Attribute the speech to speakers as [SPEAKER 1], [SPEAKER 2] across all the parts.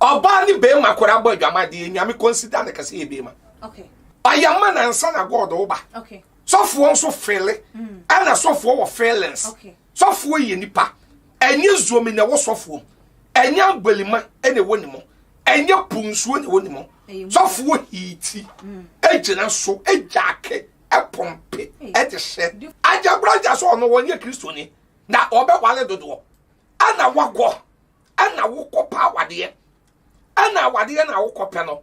[SPEAKER 1] ɔbaa ne bɛrima kora bɔ adwamadeɛ nyame consider no kɛsɛ yɛ bɛrima ɔyɛ
[SPEAKER 2] ma nansa
[SPEAKER 1] na god wo ba sɔfoɔ
[SPEAKER 2] nso
[SPEAKER 1] fele ɛna mm. sɔfoɔ wɔ feelings Sɔfoɔ
[SPEAKER 2] yɛ nipa,
[SPEAKER 1] ɛnyɛ zuomi na ɛwɔ sɔfoɔ mu, ɛnyɛ abalima na ɛwɔ ne mu, ɛnyɛ po nsuo na ɛwɔ ne mu. Sɔfoɔ hiiti, gyina so, gyaake, pɔmpe, de hyɛ. Agya bra agya sɛ ɔno wɔnyɛ kristoni na ɔbɛwale dodoɔ ɛna wakɔ ɛna wokɔ pa awadeɛ ɛna awadeɛ na wokɔ pɛ no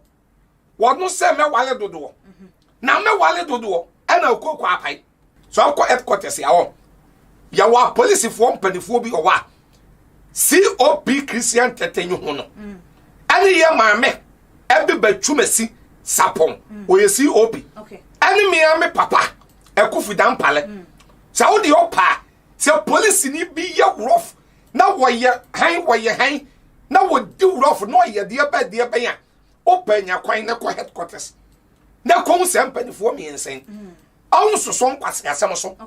[SPEAKER 1] wɔno sɛ mɛwale dodoɔ na mɛwale dodoɔ ɛna okoko apae so akɔ headquarters yɛ hɔ yɛwɔ apolisifoɔ mpanimfoɔ bi wɔ hɔ a cop christian tɛtɛ yi ho no ɛne yɛ maame ɛbi bɛtwumasi sapɔn ɔyɛ cop ɛne mmea
[SPEAKER 2] me
[SPEAKER 1] papa ɛkofi dampalɛ mm. sɛ wode ɔpaa sɛ polisini bi yɛ worɔf na wɔyɛ han wɔyɛ han na wɔdi worɔf na ɔyɛ deɛ bɛn deɛ bɛn a wopɛ nya kwan na kɔ headquarters na kɔhu saa mpanimfoɔ mmiɛnsa yi mm. ɔho soso nkwaseasɛm so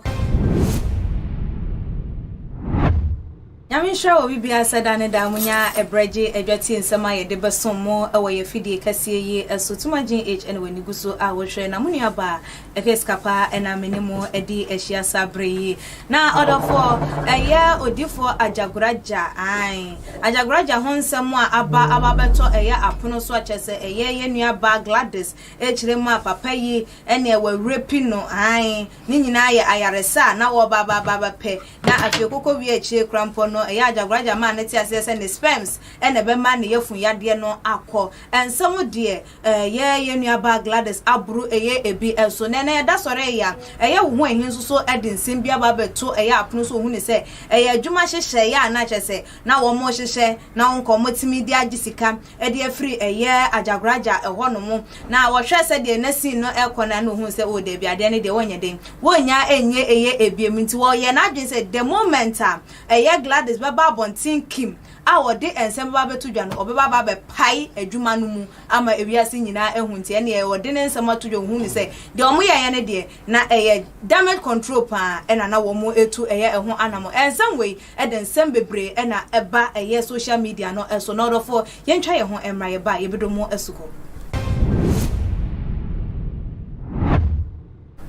[SPEAKER 2] nyame nhyira wɔ bibia sɛ da ne daa munya ɛberɛ gye adwatie nsɛm a yɛde bɛsom mo wɔ yɛ afidie kɛseɛ yi so tuma gyen h ɛne w'ani gu so a wohwɛ na mo nuabaa Ɛhwɛ sika paa ɛna me ne mo ɛde ahyia saa bere yi. Na ɔdɔfoɔ ɛyɛ odifoɔ agyagoraja ae. Agyagoraja ho nsɛm a aba aba bɛtɔ ɛyɛ apono so akyɛ sɛ ɛyɛ yɛ nua baa Gladys ɛkyerɛ mu a papa yi ɛneɛ wawura pi no ae. Ne nyinaa yɛ ayaresa a na wɔba aba aba bɛpɛ. Na afei kɔkɔ wie akyire kora mpɔ no ɛyɛ agyagoraja maa no te aseɛ sɛ ne sperms ɛna ɛbɛma ne yafun yadeɛ no akɔ. Ɛnsɛm deɛ. Ɛyɛ yɛn nuabaa Gladys aboro ɛyɛ ebi nso nɛ na yɛda sɔre ɛyɛ a ɛyɛ wo ho ɛhe nso so ɛde nsɛm bi aba abɛto ɛyɛ apono so ohunu sɛ ɛyɛ adwuma hyehyɛ yɛ a na kyerɛ sɛ na wɔn rehyehyɛ na wo nka wɔn tumi de agye sika ɛde afiri ɛyɛ agyagoraagya ɛhɔ nom na wɔhwɛ sɛdeɛ na scene no ɛkɔ no a na ohunu sɛ oo daabi adeɛ no deɛ wɔnyɛ den wɔnya ɛnyɛ ɛyɛ ɛbiem nti wɔyɛ n'adwene sɛ the moment a ɛyɛ Gladys bɛba abɔnten Kim a ɔde nsɛm bɛba abɛto dwa no, ɔbɛba aba abɛpae adwuma no mu ama wiase nyinaa ahu. Nti ɛnneɛ ɔde ne nsɛm ato dwa, ɔhuu no sɛ deɛ wɔyɛeɛ no deɛ, na ɛyɛ damage control pa ara ɛna na wɔretu ɛyɛ ɛho anamɔ. Nsɛm wei de nsɛm bebree ɛna ɛba ɛyɛ social media no so. Na ɔdɔfoɔ, yɛntwa yɛn ho mmra, yɛba a, yɛbɛdɔ mu asuko.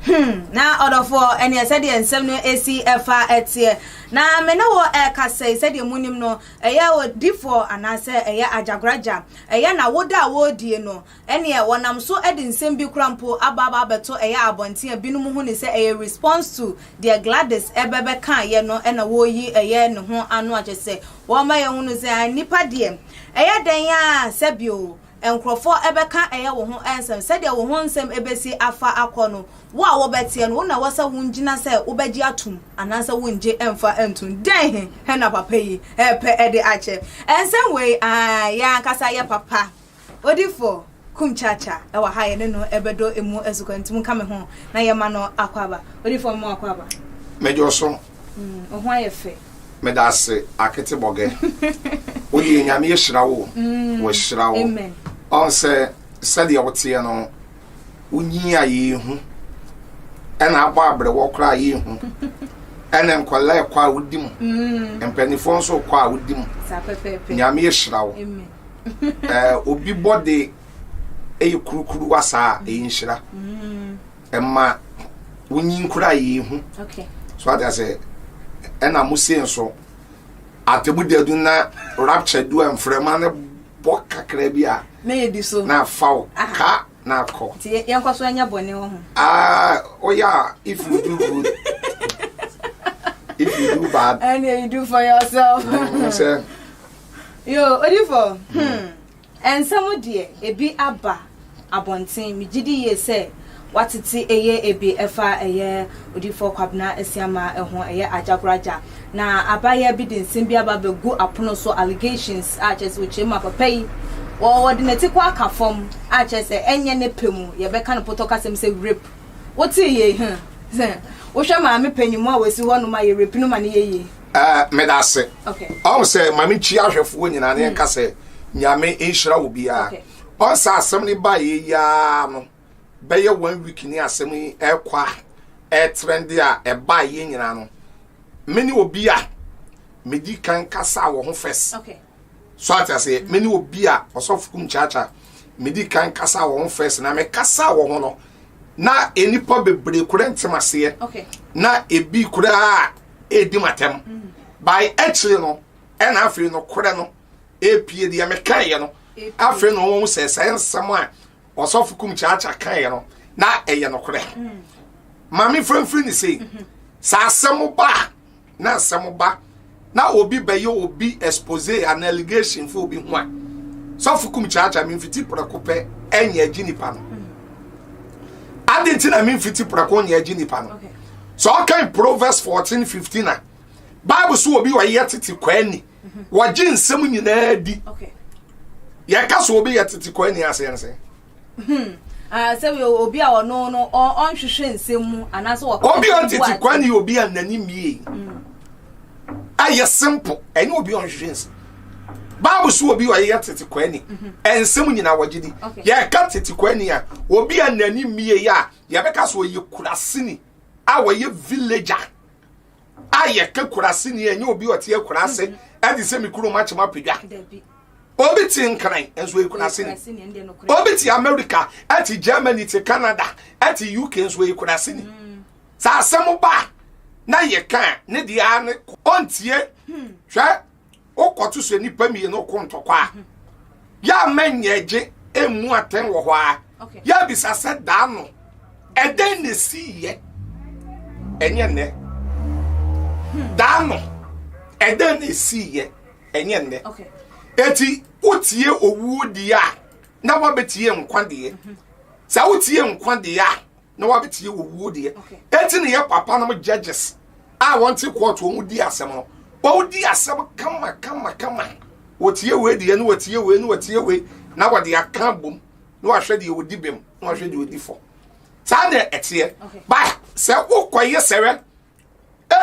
[SPEAKER 2] Hmm, na ɔdɔfoɔ, ɛneɛ sɛdeɛ nsɛm no ɛsi ɛfa ɛteɛ. Na me ne wɔ ɛka sɛi, sɛdeɛ monim no, ɛyɛ odifoɔ anaasɛ ɛyɛ agyakoragya, ɛyɛ na woda a wɔredie no, ɛneɛ wɔnam so ɛde nsɛm bi kora mpo aba aba abɛto ɛyɛ abɔnten a binom hu ne sɛ ɛyɛ response to deɛ Gladys ɛbɛ bɛkaeɛ no ɛna wɔreyi ɛyɛ ne ho ano akyɛ sɛ wɔma yɛhunu sɛ a nnipa deɛ ɛyɛ dɛn a sɛbio Nkurɔfoɔ bɛka ɛyɛ wo ho nsɛm, sɛdeɛ wo ho nsɛm bɛsi afa akɔ no, wo a wobɛteɛ no, wo na ɛwɔ sɛ wongyina sɛ wobɛgye atom anaasɛ wonngye mmfa nntom. Dɛn he na papa yi repɛ de akyɛ? Nsɛm wei, aane, yɛ ankasa yɛ papa. Odifoɔ Kumkyakya wɔ ha, yɛne no bɛdɔ emu asukɔ, nti monka me ho na yɛmma no akwaaba. Odifoɔ, mema wo akwaaba. Medwoso
[SPEAKER 1] Wo ho ayɛ
[SPEAKER 2] fɛ. Medase
[SPEAKER 1] akete bɔgɛ wodeɛ nyame ahyira wo wahyira wo ɔn
[SPEAKER 2] sɛ
[SPEAKER 1] sɛdeɛ woteɛ no wonyin a yɛhu ɛna abɔ abrɛwɔ koraa yɛhu ɛna nkɔla ɛkɔ a wodi mu mm. mpanimfoɔ nso kɔ a wodi mu
[SPEAKER 2] nyame ahyira wo
[SPEAKER 1] obi bɔde ɛyɛ kurukuru wasaa ɛyɛ nhyira mm. ɛma wonyi nkura yie ho so ate
[SPEAKER 2] asɛ
[SPEAKER 1] ɛna mo se nso atemu dadu na rapture du a mframa no bɔ kakra bi a na yɛdi so na
[SPEAKER 2] afa wo ka
[SPEAKER 1] na akɔ nti yɛnkɔ so anya
[SPEAKER 2] bɔne wɔ ho ah oh
[SPEAKER 1] yeah if you do good if you do bad and you do for
[SPEAKER 2] yourself sɛ
[SPEAKER 1] yo
[SPEAKER 2] odifo hmm. hmm. Ɛnsɛ mo deɛ ebi aba abɔnten megyedi yie sɛ watete eye ebi ɛfa ɛyɛ odiyifoɔ kwabena asiamaa ɛho ɛyɛ agyagoragya na abayeɛ bi de nsem bi aba abɛgu apono so allegations a kyerɛ sɛ ɔkyerɛ mu a papa yi wɔ wɔde nati kɔ aka fam a kyerɛ sɛ ɛnyɛ ne pɛ mu yɛbɛka no potɔ kasɛm sɛ rape wotee yei huh wohwɛ maame panyinmu a wasi hɔ nom a yɛ rape no ma no yɛ yie. Eh, meda ase.
[SPEAKER 1] Ɔn
[SPEAKER 2] sɛ ma me nkyia
[SPEAKER 1] ahwɛfoɔ nyinaa ne yɛnka sɛ nyame nhyira wo biara. Ɔn sɛ asɛm ne ba yɛ yaa no bɛyɛ one week ne asɛm yi ɛkɔ a ɛtrɛnde a ɛba yɛ nyinaa no me ne obi a medi
[SPEAKER 2] kan
[SPEAKER 1] kasa wɔ ho fɛs. So ate aseɛ? Me ne obi a ɔsɔfo kum kyaakya medi kan kasa wɔ ho fɛs na me kasa wɔ ho no na nnipa bebree kura ntem aseɛ na
[SPEAKER 2] ebi
[SPEAKER 1] koraa edi matam mm. by akyire no ɛna afei no korɛ no epie deɛ mekaeɛ no afei na wɔn sɛ sɛ nsɛm a ɔsɔfo kum kyaakya kaeɛ no na ɛyɛ nokorɛ mm. maame fanfiri ne sei mm-hmm. sɛ asɛm ba na nsɛm ba na obi bɛyɛ obi expose an allegation fo obi ho a sɔfo kum kyaakyaa me mfiti prɛko pɛ ɛnyɛ agyi nipa no adi nti na me mfiti prɛko nyɛ agyi nipa no sɛ ɔkan proverbs fourteen fifteen a bible so obi ɔyɛ tete kwani wɔgye nsɛm nyinaa di
[SPEAKER 2] yɛka
[SPEAKER 1] so obi yɛ tete kwani aseɛ no sɛ.
[SPEAKER 2] Hmm. Ah, sɛ yɛ obi a ɔno no ɔnhwehwɛ nsɛm mu anaasɛ ɔka obi a ɔtete kwa ne
[SPEAKER 1] obi a n'ani mmie hmm. ayɛ simple ɛne obi a ɔnhwehwɛ nsɛm baabu so obi a ɔyɛ tete kwa ni mhm. nsɛm nyinaa wɔgye di yɛka tete kwa ni a obi a n'ani mmie yɛ a yɛbɛka so ɔyɛ kurasini a wɔyɛ villager a yɛka kurasini ɛnyɛ obi a ɔte akurase mhm. ɛde sɛ me kurom akyem apagya obi te nkran nso eyi kurase ni obi te america ɛte germany te canada ɛte uk nso eyi kurase ni hmm. saa asɛm ba na yɛ kan ne deɛ a ne ɔntie hmm. hwɛ wokɔto so nipa mmienu ko ntɔkwa a hmm. yɛ a mɛnyɛ gye emu atɛn wɔ hɔ a yɛ abisa sɛ daa no ɛdɛn na esi yɛ ɛnyɛ nnɛ daa no ɛdɛn na esi yɛ. ɛnyɛ nnɛ enti wotie owuo deɛ a na wabɛtie nkwa deɛ mhm. sɛ wotie nkwa deɛ a na wabɛtie owuo deɛ enti ne yɛ papa nom judges a wɔnte kɔɔto wɔn di asɛm no wɔn di asɛm kama kama kama wɔtie wei deɛ na wɔtie wei na wɔtie wei na wɔde aka bom na wɔahwɛ deɛ wɔdi bem na wɔahwɛ deɛ wɔdi fɔ saa na ɛteɛ ba sɛ wokɔyɛ sɛrɛ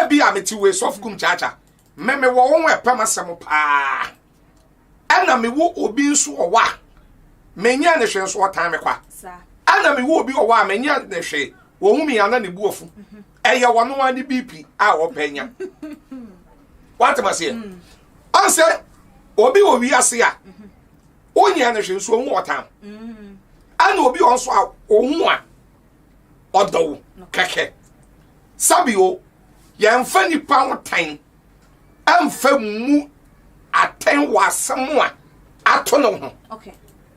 [SPEAKER 1] ebi a mete wei sɔfo kum kyaakyaa Me me wɔ wɔn ɛpɛm asɛm paa ɛna me wɔ obi nso wɔ hɔ a menyɛ ne hwɛ nso ɔtan me kwa ɛna me wɔ obi wɔ hɔ a menyɛ ne hwɛ wɔn mu yana ne bu afu mhm. ɛyɛ wɔn ano ne biipi a ɔpɛ nya wate ma seɛ mm. ɔnsɛ obi wɔ wiase a mhm. wonyɛ ne hwɛ nso ɔhu ɔtan mm. ɛna obi wɔ nso a ɔhu a ɔdɔ wo kɛkɛ sabi o. Yɛmfa nnipa ho tan mfa mmu atɛn wɔ asɛm a ato no ho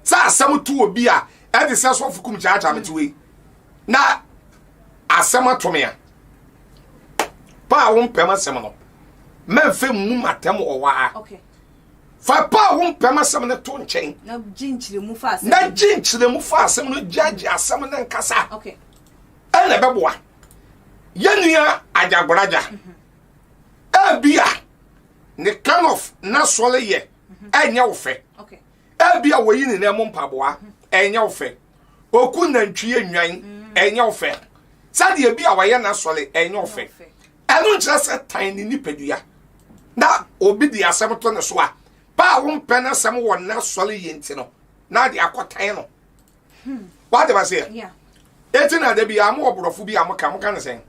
[SPEAKER 1] sɛ
[SPEAKER 2] asɛm to
[SPEAKER 1] obi a ɛde sɛ sɔfo kum gyaagyaa mete wei na asɛm ato me a pa a wompɛm asɛm no mɛmfa mmu matɛm wɔ hɔ a
[SPEAKER 2] fa pa
[SPEAKER 1] a wompɛm asɛm no to nkyɛn
[SPEAKER 2] na gye nkyerɛmu fa asɛm no gyaagye
[SPEAKER 1] asɛm no nkasa
[SPEAKER 2] ɛna ɛbɛboa
[SPEAKER 1] yɛn nua agyagoraja ebi a ne kind of n'asɔre yɛ ɛnyɛ wo fɛ ebi
[SPEAKER 2] a wɔyi
[SPEAKER 1] ne nan mu mpaboa ɛnyɛ wo fɛ oku nantwie nnwan ɛnyɛ wo fɛ sɛdeɛ ebi a wɔyɛ n'asɔre ɛnyɛ wo fɛ ɛno nkyerɛ sɛ tan ne nipadua na obi de asɛm to ne so a paa wo mpɛ n'asɛm wɔ n'asɔre yɛ nti no na de akɔtan no. Hmm. Wate ma seɛ? Yeah. Eti
[SPEAKER 2] na da bi
[SPEAKER 1] a mo ɔborɔfo bi a mo ka mo ka ne sɛn?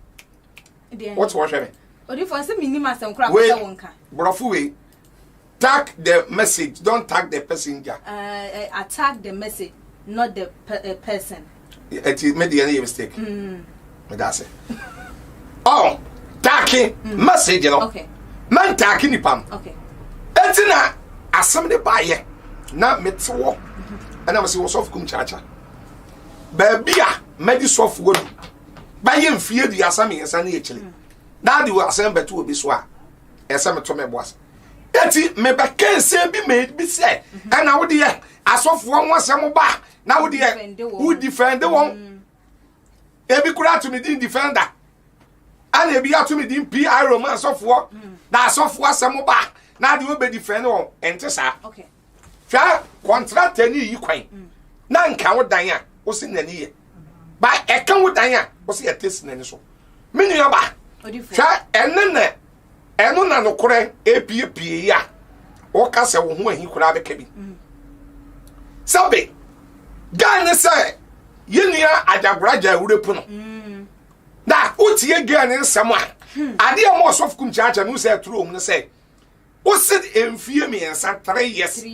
[SPEAKER 1] Wote wɔhwɛ me. Odifo nsɛ mi nim
[SPEAKER 2] asɛm kora kɔsɛ wo nka. Borɔfo wei.
[SPEAKER 1] Tag the message, don't tag the passenger. Uh, uh, attack
[SPEAKER 2] the message, not the pe uh, person. Eti me
[SPEAKER 1] deɛ ne yɛ mistake. Mm. meda ase ɔ taake mm. message no mɛntaake
[SPEAKER 2] nipa
[SPEAKER 1] no ɛnti
[SPEAKER 2] na
[SPEAKER 1] asɛm de baayɛ na mete wɔ mm-hmm. ɛna mesɛ wɔ sɔfo kum kyakya baabi a mɛde sɔfoɔ du bɛyɛ mfie aduasa mmiɛnsa ne akyiri mm. na ade wɔ asɛm bɛto obi so a ɛsɛ meto me boa ɛti mebɛka nsɛm bi mɛbi sɛ mm-hmm. ɛna wodeɛ asɔfoɔ ho asɛm ba na wodeɛ wodifɛnde wɔn mm. ebi kura ato ne din defender ɛna ebi ato ne din pi roma asɔfoɔ hmm. na asɔfoɔ asɛm ba na adeɛ ɔbɛ defend wɔn ɛnte saa hwɛ kɔntrata ni yi kwan hmm. na nka wo dan a wosi n'ani yɛ ba ɛka wo dan a wosi ɛte si n'ani so me nua ba hwɛ ɛne na ɛno na nokorɛ epiepie yi a woka sɛ wo ho ahi koraa bɛka bi mm. sɛbe gaa ne sɛ yɛnua adagora gya awurɛ pu no mm. na wotie gaa ne nsɛm a hmm. adeɛ ma ɔsɔfo kum kyaakyɛ no sɛ aturo mu no sɛ wose mfie mmiɛnsa three years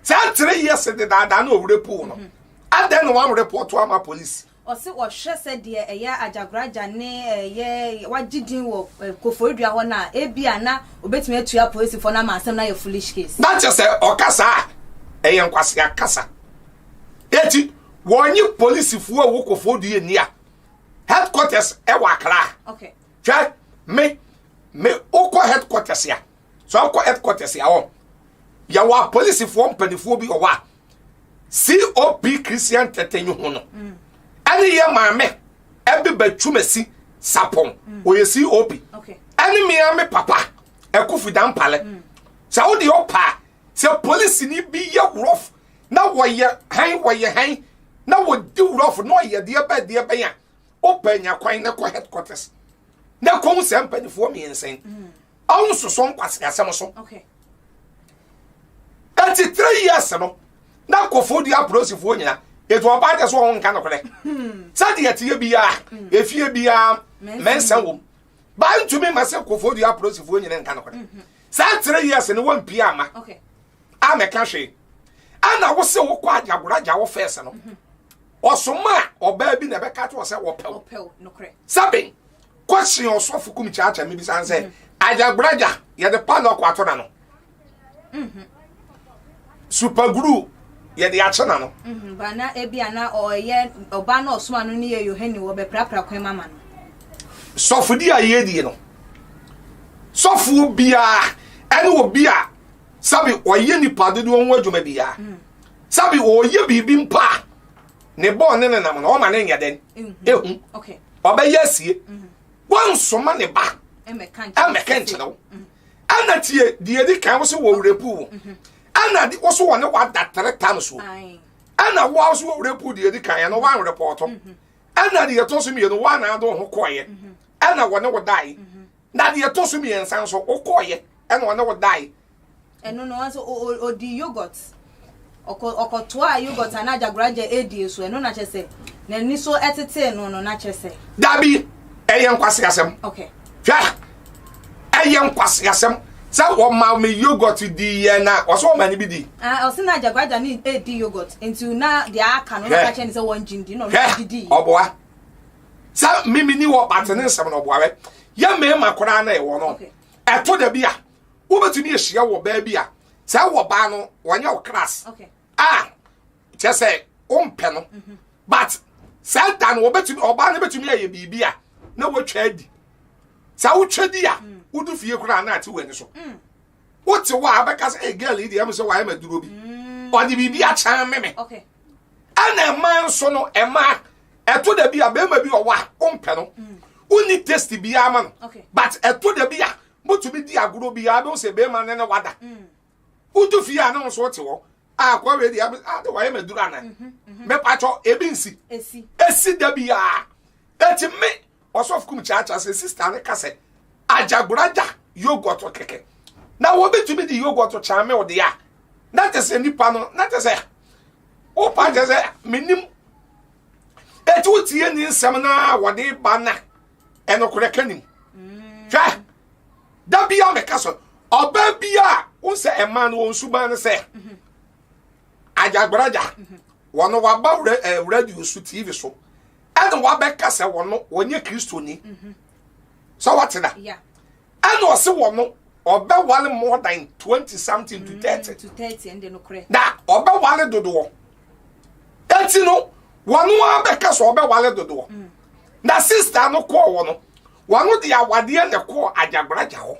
[SPEAKER 2] sɛ three years
[SPEAKER 1] de daadaa na ɔwerɛ pu no mm-hmm. adɛn na wɔn report ama polisi Ɔse ɔhwɛ sɛ
[SPEAKER 2] deɛ ɛyɛ Agyakoragya ne ɛyɛ wagye din wɔ Koforidua hɔ no a, ebia na obetumi atua apolisifoɔ no ama asɛm no ayɛ foolish case. Na kyɛ sɛ ɔka
[SPEAKER 1] saa a, ɛyɛ nkwasea kasa. Eti wɔnye polisifoɔ a ɛwɔ Koforidua nni a headquarters ɛwɔ Accra. Okay. Hwɛ,
[SPEAKER 2] me,
[SPEAKER 1] me, wokɔ headquarters a, sɛ ɔkɔ headquarters a ɔ, yɛwɔ apolisifoɔ mpanimfoɔ bi wɔ hɔ a, cop christian tɛtɛnyi ho no ɛne yɛ maame ɛbe bɛtwumasi sapɔn ɔyɛ cop ɛne mea
[SPEAKER 2] me
[SPEAKER 1] papa ɛkofi da mpale sɛ wode ɔpaa sɛ polisi ni bi yɛ wurɔf na wɔyɛ han wɔyɛ han na wɔdi wurɔf na ɔyɛ deɛ bɛ deɛ bɛn a wopɛ nya kwan na kɔ headquarters na kɔhu sɛ mpanimfoɔ mmiɛnsa yi Ɔn soso nkwasea asɛm so.
[SPEAKER 2] Eti
[SPEAKER 1] three years no na kofo di apolisifoɔ nyina etu ɔbaa kyɛ so ɔn nka nokorɛ sɛdeɛ teɛ biara hmm. efie biara mɛnsa wɔm baa ntumi ma sɛ kofo di apolisifoɔ nyina nka nokorɛ hmm, hmm. saa three years no wɔn pii ama a
[SPEAKER 2] mɛka hwee
[SPEAKER 1] ɛna wosɛ wokɔ agyagora gya wo fɛs no ɔsoma a ɔbaa bi na ɛbɛka to ɔsɛ wɔpɛw sɛbe Question Ɔsɔfo Kum Kyaakya mi bisa sɛ Ajagburaja yɛde padlock ato na no. Mhm. Super glue yɛde akye na no. Mhm. Ba na ebi ana
[SPEAKER 2] ɔyɛ ɔba na ɔsoma no ne yɛ Yohane wɔ bɛprapra kwan mama no. Sɔfodi
[SPEAKER 1] a yɛdie no sɔfoɔ biara ɛne obi a sabi ɔyɛ nipa dodoɔ ho adwuma biara mm. sabi ɔyɛ biribi mpa a ne bɔɔ ne nenam no ɔma ne nyɛ dɛn ehu ɔbɛyɛ
[SPEAKER 2] asie
[SPEAKER 1] mm-hmm. wansoma ne ba ɛmɛka
[SPEAKER 2] nkyerɛ wo mm-hmm.
[SPEAKER 1] ɛna tie deɛ di kan wo so wɔ werɛ puu mm-hmm. ɛna wo so wɔ ne wada tere tam so ɛna wo so wɔ werɛ puu deɛ di kan ɛno wanwerɛ pɔɔtɔ ɛna deɛ ɛtɔ so mmienu wanaa do ho kɔɔyɛ ɛna wɔ ne wo dae na deɛ ɛtɔ so mmiɛnsa nso wokɔɔyɛ ɛna wɔ ne wo dae Ɛno no, ɔsɛ
[SPEAKER 2] ɔdi yogurt. Ɔkɔ ɔkɔtoa yogurt anaa gyagoragya edie so. Ɛno na kyɛ sɛ n'ani so ɛtetee no no na kyɛ sɛ. Dabi,
[SPEAKER 1] ɛyɛ nkwaseasɛm. Okay. Hwɛ, ɛyɛ nkwaseasɛm sɛ wɔma me yogurt di yɛ na ɔsɛ wɔma ne bi di. Ah, ɔsɛ na gyagoragya
[SPEAKER 2] ne edi yogurt nti na deɛ aka no na kakyɛ ne sɛ wɔn gyin di na ɔno di di. Ɔboa.
[SPEAKER 1] Sɛ mimi ni wɔ pate ne nsɛm na ɔboa wɛ. Yɛ mmarima koraa na ɛwɔ no. Ɛto dabi a wobɛtumi ahyia wɔ baa bi a sɛ wɔ baa no wɔnyɛ wo class a
[SPEAKER 2] kyɛ
[SPEAKER 1] sɛ wompɛ no mhm. but sɛ da no wɔbɛtumi ɔbaa no bɛtumi ayɛ biribi a na wɔatwa adi sɛ wotwa di a mm. wodu fie koraa na ate w'ani so mm. wote hɔ a wobɛka sɛ ɛgal yi deɛ ɛm sɛ wayɛ maduro bi mm. ɔde biribi akyɛn me me
[SPEAKER 2] ɛna ɛma
[SPEAKER 1] nso no ɛma ɛto da bi a bɛrima bi ɔwɔ a wompɛ no wonni test biara ma no but ɛto da bi a motumi di agorɔ biara bɛhu sɛ bɛrima no ne wada wodu fie a ne wo so wote hɔ akɔ wei deɛ ade wayɛ maduru ana mepatwɔ ebi nsi ɛsi da biara ɛti me ɔsɔfo kum kyaakyaa sɛ sista ne ka sɛ agyagoraja yogurt kɛkɛ na wɔbɛtumi de yogurt kyɛn me wo deɛ a na te sɛ nipa no na te sɛ wopa kyɛ sɛ menim ɛti wotie ne nsɛm no a wɔde ba na ɛnokorɛ ka nim mm. hwɛ da bia meka sɛ ɔbaa bia a wo sɛ ɛma no wɔn suban no sɛ mhm. agyagbaraja mhm. wɔn waba eh, radio so tv so ɛna wabɛka sɛ wɔn wɔnyɛ kristoni mhm. sɛ wɔte da Ɛna
[SPEAKER 2] ɔse
[SPEAKER 1] wɔn ɔbɛwale more than twenty something to thirty. Mm, to thirty ɛnde no korɛ. Na
[SPEAKER 2] ɔbɛwale
[SPEAKER 1] dodoɔ. Eti no wɔn abɛka sɛ ɔbɛwale dodoɔ. Mm. Na sista no kɔɔ wɔ no wɔn de awadeɛ na kɔɔ agyagbaraja hɔ.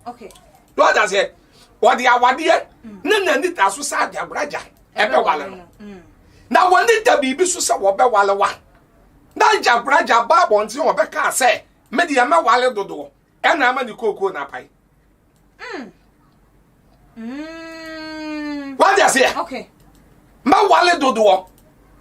[SPEAKER 2] Okay. Lord ase
[SPEAKER 1] wɔde awadeɛ mm. ne na nita so sɛ agyagbaraja ɛbɛwale no. Mm. Na wɔn ne da biribi so sɛ wɔbɛwale wa. Na agyagbaraja baa bɔnten wɔbɛka sɛ. Me deɛ mɛ wale dodoɔ ɛna ama ne kookoo na apae. Mm. Mm. Wọ́n di aseɛ. Okay.
[SPEAKER 2] Mɛ wale
[SPEAKER 1] dodoɔ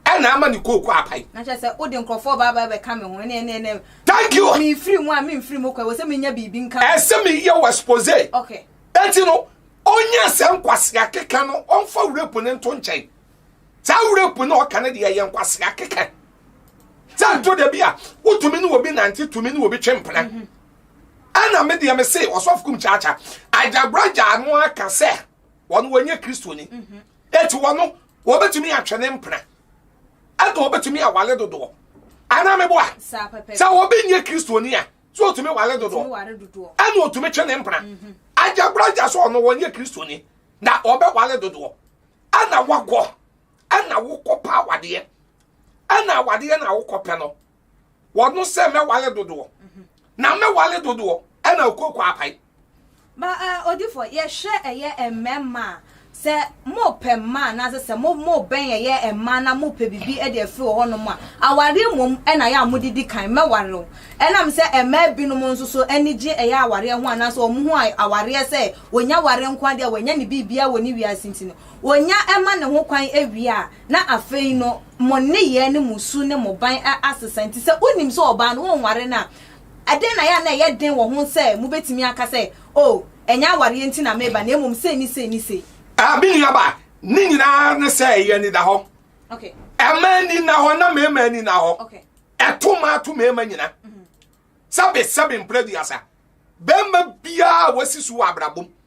[SPEAKER 1] ɛna ama ne kookoo apae. Na kyerɛ sɛ o de nkurɔfoɔ
[SPEAKER 2] baa baa bɛ ka mi ho ɛnɛ ɛnɛ ɛnɛ. Thank you. Mi
[SPEAKER 1] firi mu a mi nfiri
[SPEAKER 2] mu kɔ ɛwɔ sɛ mi nya biribi nka. Ɛsɛ mi yɛ wɔ
[SPEAKER 1] expose. Okay. Eti no onye sɛ nkwasi akeka no ɔnfa wura pone nto nkyɛn. Saa wura pone ɔka ne deɛ yɛ nkwasi akeka. sɛ nto da bi a wotumi ne obi nante tumi ne obi twe mpena mhm. ɛna me deɛ me se ɔsɔfo kum kyaakya agyabragya ano aka sɛ wɔn wɔnyɛ kristoni mhm. eti wɔn wɔbɛtumi atwe ne mpena ɛna wɔbɛtumi awale dodoɔ ana me boa sɛ wɔbɛ nyɛ kristoni a sɛ otumi wale dodoɔ ɛna otumi twe ne mpena mhm. agyabragya sɛ ɔno wɔnyɛ kristoni na ɔbɛ wale dodoɔ ɛna wakɔ. ɛna wokɔpɛ awadeɛ ɛna awadeɛ na wokɔpɛ no wɔno sɛ mɛwale dodoɔ mhm. na mɛwale dodoɔ ɛna okoko apae ba eh,
[SPEAKER 2] odifo yɛhwɛ ɛyɛ mmarima a sɛ mopɛ mma anaasɛ sɛ mobɛn ɛyɛ mma na mopɛ biribi de afiri wɔ hɔnom a awareɛ mmom na yɛ a modedi kan mɛware wo ɛnam sɛ mmaa binom nso so ani gye ɛyɛ awareɛ ho anaasɛ wɔn ho awareɛ sɛ wɔnya ware nko adeɛ a wɔanya ne biribiara wɔ ne wiase nti no Onya ma ne ho kwan wie a, na afei no mo nneyɛɛ ne mo su ne mo ban asesa. Nti sɛ wonim sɛ ɔbaa no wonware no a, ɛdɛn na ɛyɛ a na ɛyɛ den wɔ ho sɛ mobɛtumi aka sɛ, Oh, ɛnyɛ awareɛ nti na mereba na mmom sei ne sei ne sei? Ah, me nuabaa,
[SPEAKER 1] ne nyinaa ara ne sɛ ɛyɛ anidahɔ. Ɛma
[SPEAKER 2] ani nna
[SPEAKER 1] hɔ na mmarima ani nna hɔ. Ɛto
[SPEAKER 2] mmaa ato
[SPEAKER 1] mmarima nyina. Sɛbesɛbe mprɛ aduasa, barima biara a wasi so wɔ abrabom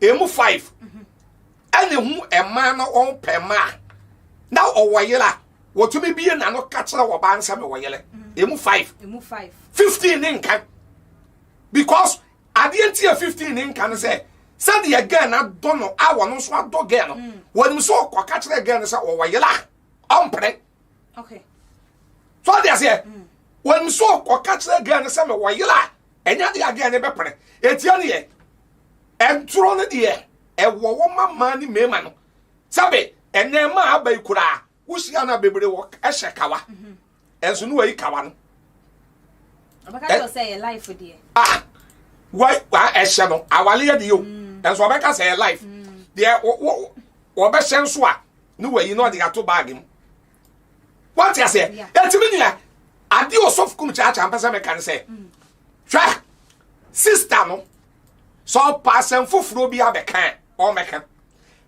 [SPEAKER 1] ɛmu five ɛne hu ɛmaa no wɔn pɛ mmaa na ɔwɔ yere a wɔtumi bie na no ka kyerɛ wɔ baa nsɛm wɔ yere ɛmu five fifteen ne nka because adeɛ nti yɛ fifteen ne nka no sɛ sɛdeɛ gɛn na dɔ no a wɔn nso adɔ gɛn no mm. wɔn nso ɔkɔ ka kyerɛ gɛn no sɛ ɔwɔ yere a ɔmpere
[SPEAKER 2] so
[SPEAKER 1] ɔde aseɛ wɔn nso ɔkɔ ka kyerɛ gɛn no sɛ mɛ wɔ yere a. ɛnyɛ adeɛ a deɛ ne bɛpere ɛtia ne yɛ ɛntoro no deɛ ɛwɔ wɔ ma mmaa ne mmarima no sɛbe ɛnɛɛma a aba yi koraa wohyia no a bebree wɔ ɛhyɛ kawa mhm. ɛnso ne wayi kawa no
[SPEAKER 2] ah,
[SPEAKER 1] ɛhyɛ no awaleɛ deɛ o mm. ɛnso ɔbɛka sɛ yɛ life mm. deɛ wɔbɛhyɛ nso a ne wayi na ɔde ato baage mu wate aseɛ ɛtumi nyina adeɛ ɔsɔfo kum kyaakyaa mpɛ sɛ meka ne sɛ mm. hwɛ sista no sɛ ɔpa asɛm foforɔ bi abɛka a ɔmmɛka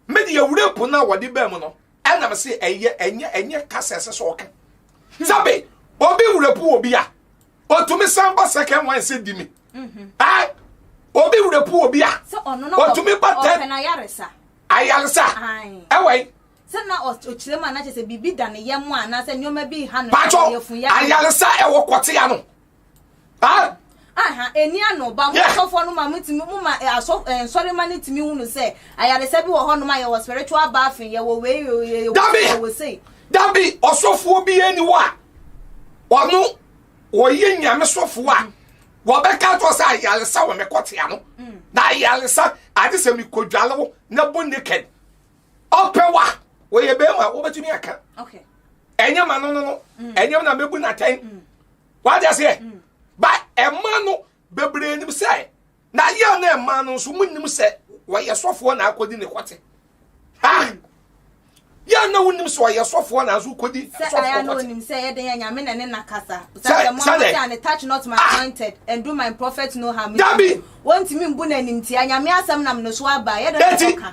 [SPEAKER 1] mede awura po no a wɔde baa mu no ɛnam se ɛyɛ ɛnyɛ ɛnyɛ kasa ɛsɛ sɛ ɔka hmm. sɛbe obi wura po obi a ɔtumi san ba second one sɛ di me mhm. ah, obi wura po obi a ɔtumi ba tɛ
[SPEAKER 2] ayaresa
[SPEAKER 1] ɛwɔ yi Sɛ na
[SPEAKER 2] ɔkyerɛ mu a, na kyerɛ sɛ biribi da ne yam a anaasɛ nneɛma bi reha no yɛfuya. ayaresa
[SPEAKER 1] ɛwɔ kɔtea no. aha
[SPEAKER 2] ɛni ano ba mo asɔfoɔ no ma motumi mo ma asɔ nsɔrema no tumi hunu sɛ ayaresa bi wɔ hɔnom a yɛwɔ spiritual bathing yɛwɔ wei yɛwɔ sei dabi ɔsɔfoɔ
[SPEAKER 1] bi ɛni wɔ a ɔno wɔyɛ nyame sɔfoɔ a wɔbɛka to sɛ ayaresa wɔ me kɔtea no na ayaresa ade sɛ mekɔdwale wo na bo naked ɔpɛwa wɔyɛ bɛrima wobɛtumi aka
[SPEAKER 2] ɛnyɛ ma no no
[SPEAKER 1] no mm. ɛnyɛ na mɛbu no atɛn mm. wagya seɛ mm. ba ɛma no bebree nim sɛ na yɛ na ɛma no nso mu nim sɛ wɔyɛ sɔfoɔ na akɔdi ne kɔte ha yɛ na wonim sɛ ɔyɛ sɔfoɔ na nso kɔdi sɔfoɔ kɔte sɛ
[SPEAKER 2] yɛde yɛ nyame na ne nakasa sɛ mo ɔde ane touch not my ah! anointed and do my prophet no harm dabi wɔntumi
[SPEAKER 1] mbu
[SPEAKER 2] n'animtia nyame asɛm nam ne so aba yɛde ne kɔka